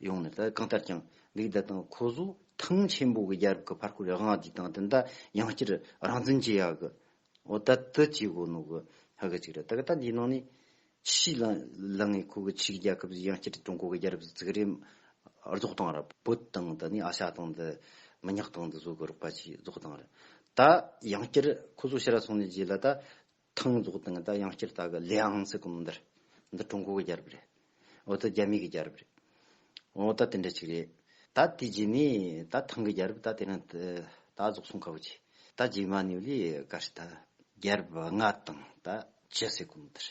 ཡོང་ནས་ད་ལྟ་གང་ལྟར་ཀྱང་འདུག་ད་དང་ཁོ་ཟོ་ཐང་ཆེན་པོ་གི་རྒྱལ་རབས་ཀྱི་བར་སྐོར་ཡག་ང་དེ་དང་དེ་ད་ཡང་བསྐྱར་རང་བཙན་བྱེད་ཡག་གི་འོ་ད་དེ་བྱེད་དགོས་ནོ་གི་ཧ་གི་ཅིག་རེད་ད་གི་ད་འདིའི་ནང་ནས་ཅི་ཞིག་ལ་ལ་ངས་ཁོ་གི་ཆེ་གི་རྒྱལ་ཁབ་ཟིག་ཡང་བསྐྱར་ཀྲུང་གོ་གི་རྒྱལ་རབས་ཟིག་བརྩིག་རེས་རྫོགས་སྟངས་ར་བོད་དང་ད་ནས་ཨ་ཤ་དང་འདི་མི་ཉག་དང་འདི་བཟོ་གི་རོགས་པ་ཅིག་རྫོགས་སྟངས་ར་ད་ཡང་བསྐྱར་ཁོ་ཟོ་ཤི་ར་སོང་ནས་རྗེས་ལ་ད་ཐང་རྫོགས་དང་དང་ཡང་སྐྱེར་དག་གི་ལེ་ཨང་ཚིག་གོ་མི་འདར། འདི་ཀྲུང་གོ་གི་རྒྱལ་རབས་རེད། འོ་ད་རྒྱ་མི་གི་རྒྱལ་རབས་རེད། འོ་ད་དེ་འདྲ་ཅིག་རེད། ད་དེ་རྗེས་ནས་ད་ཐང་གི་རྒྱལ་རབས་ད་དེ་ནས་ད་རྫོགས་སོང་ཁ་བོ་ཆེ། ད་རྗེས་མ་ནི་ལི་ག་རེད་ད། རྒྱལ་རབས་ལྔ་དང་ད་བཅུ་ཟེར་གོ་མི་འདར།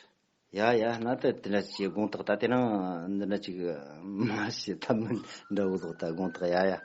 ཡ་ཡ་ན་ད་དེ་འདྲ་ཅིག་དགོངས་དག་ད་དེ་རང་འདི་འདྲ་ཅིག་མ་བྱེད་ད་མི་འདྲ་བོ་ལོག་ད་དགོངས་དག་ཡ་ཡ།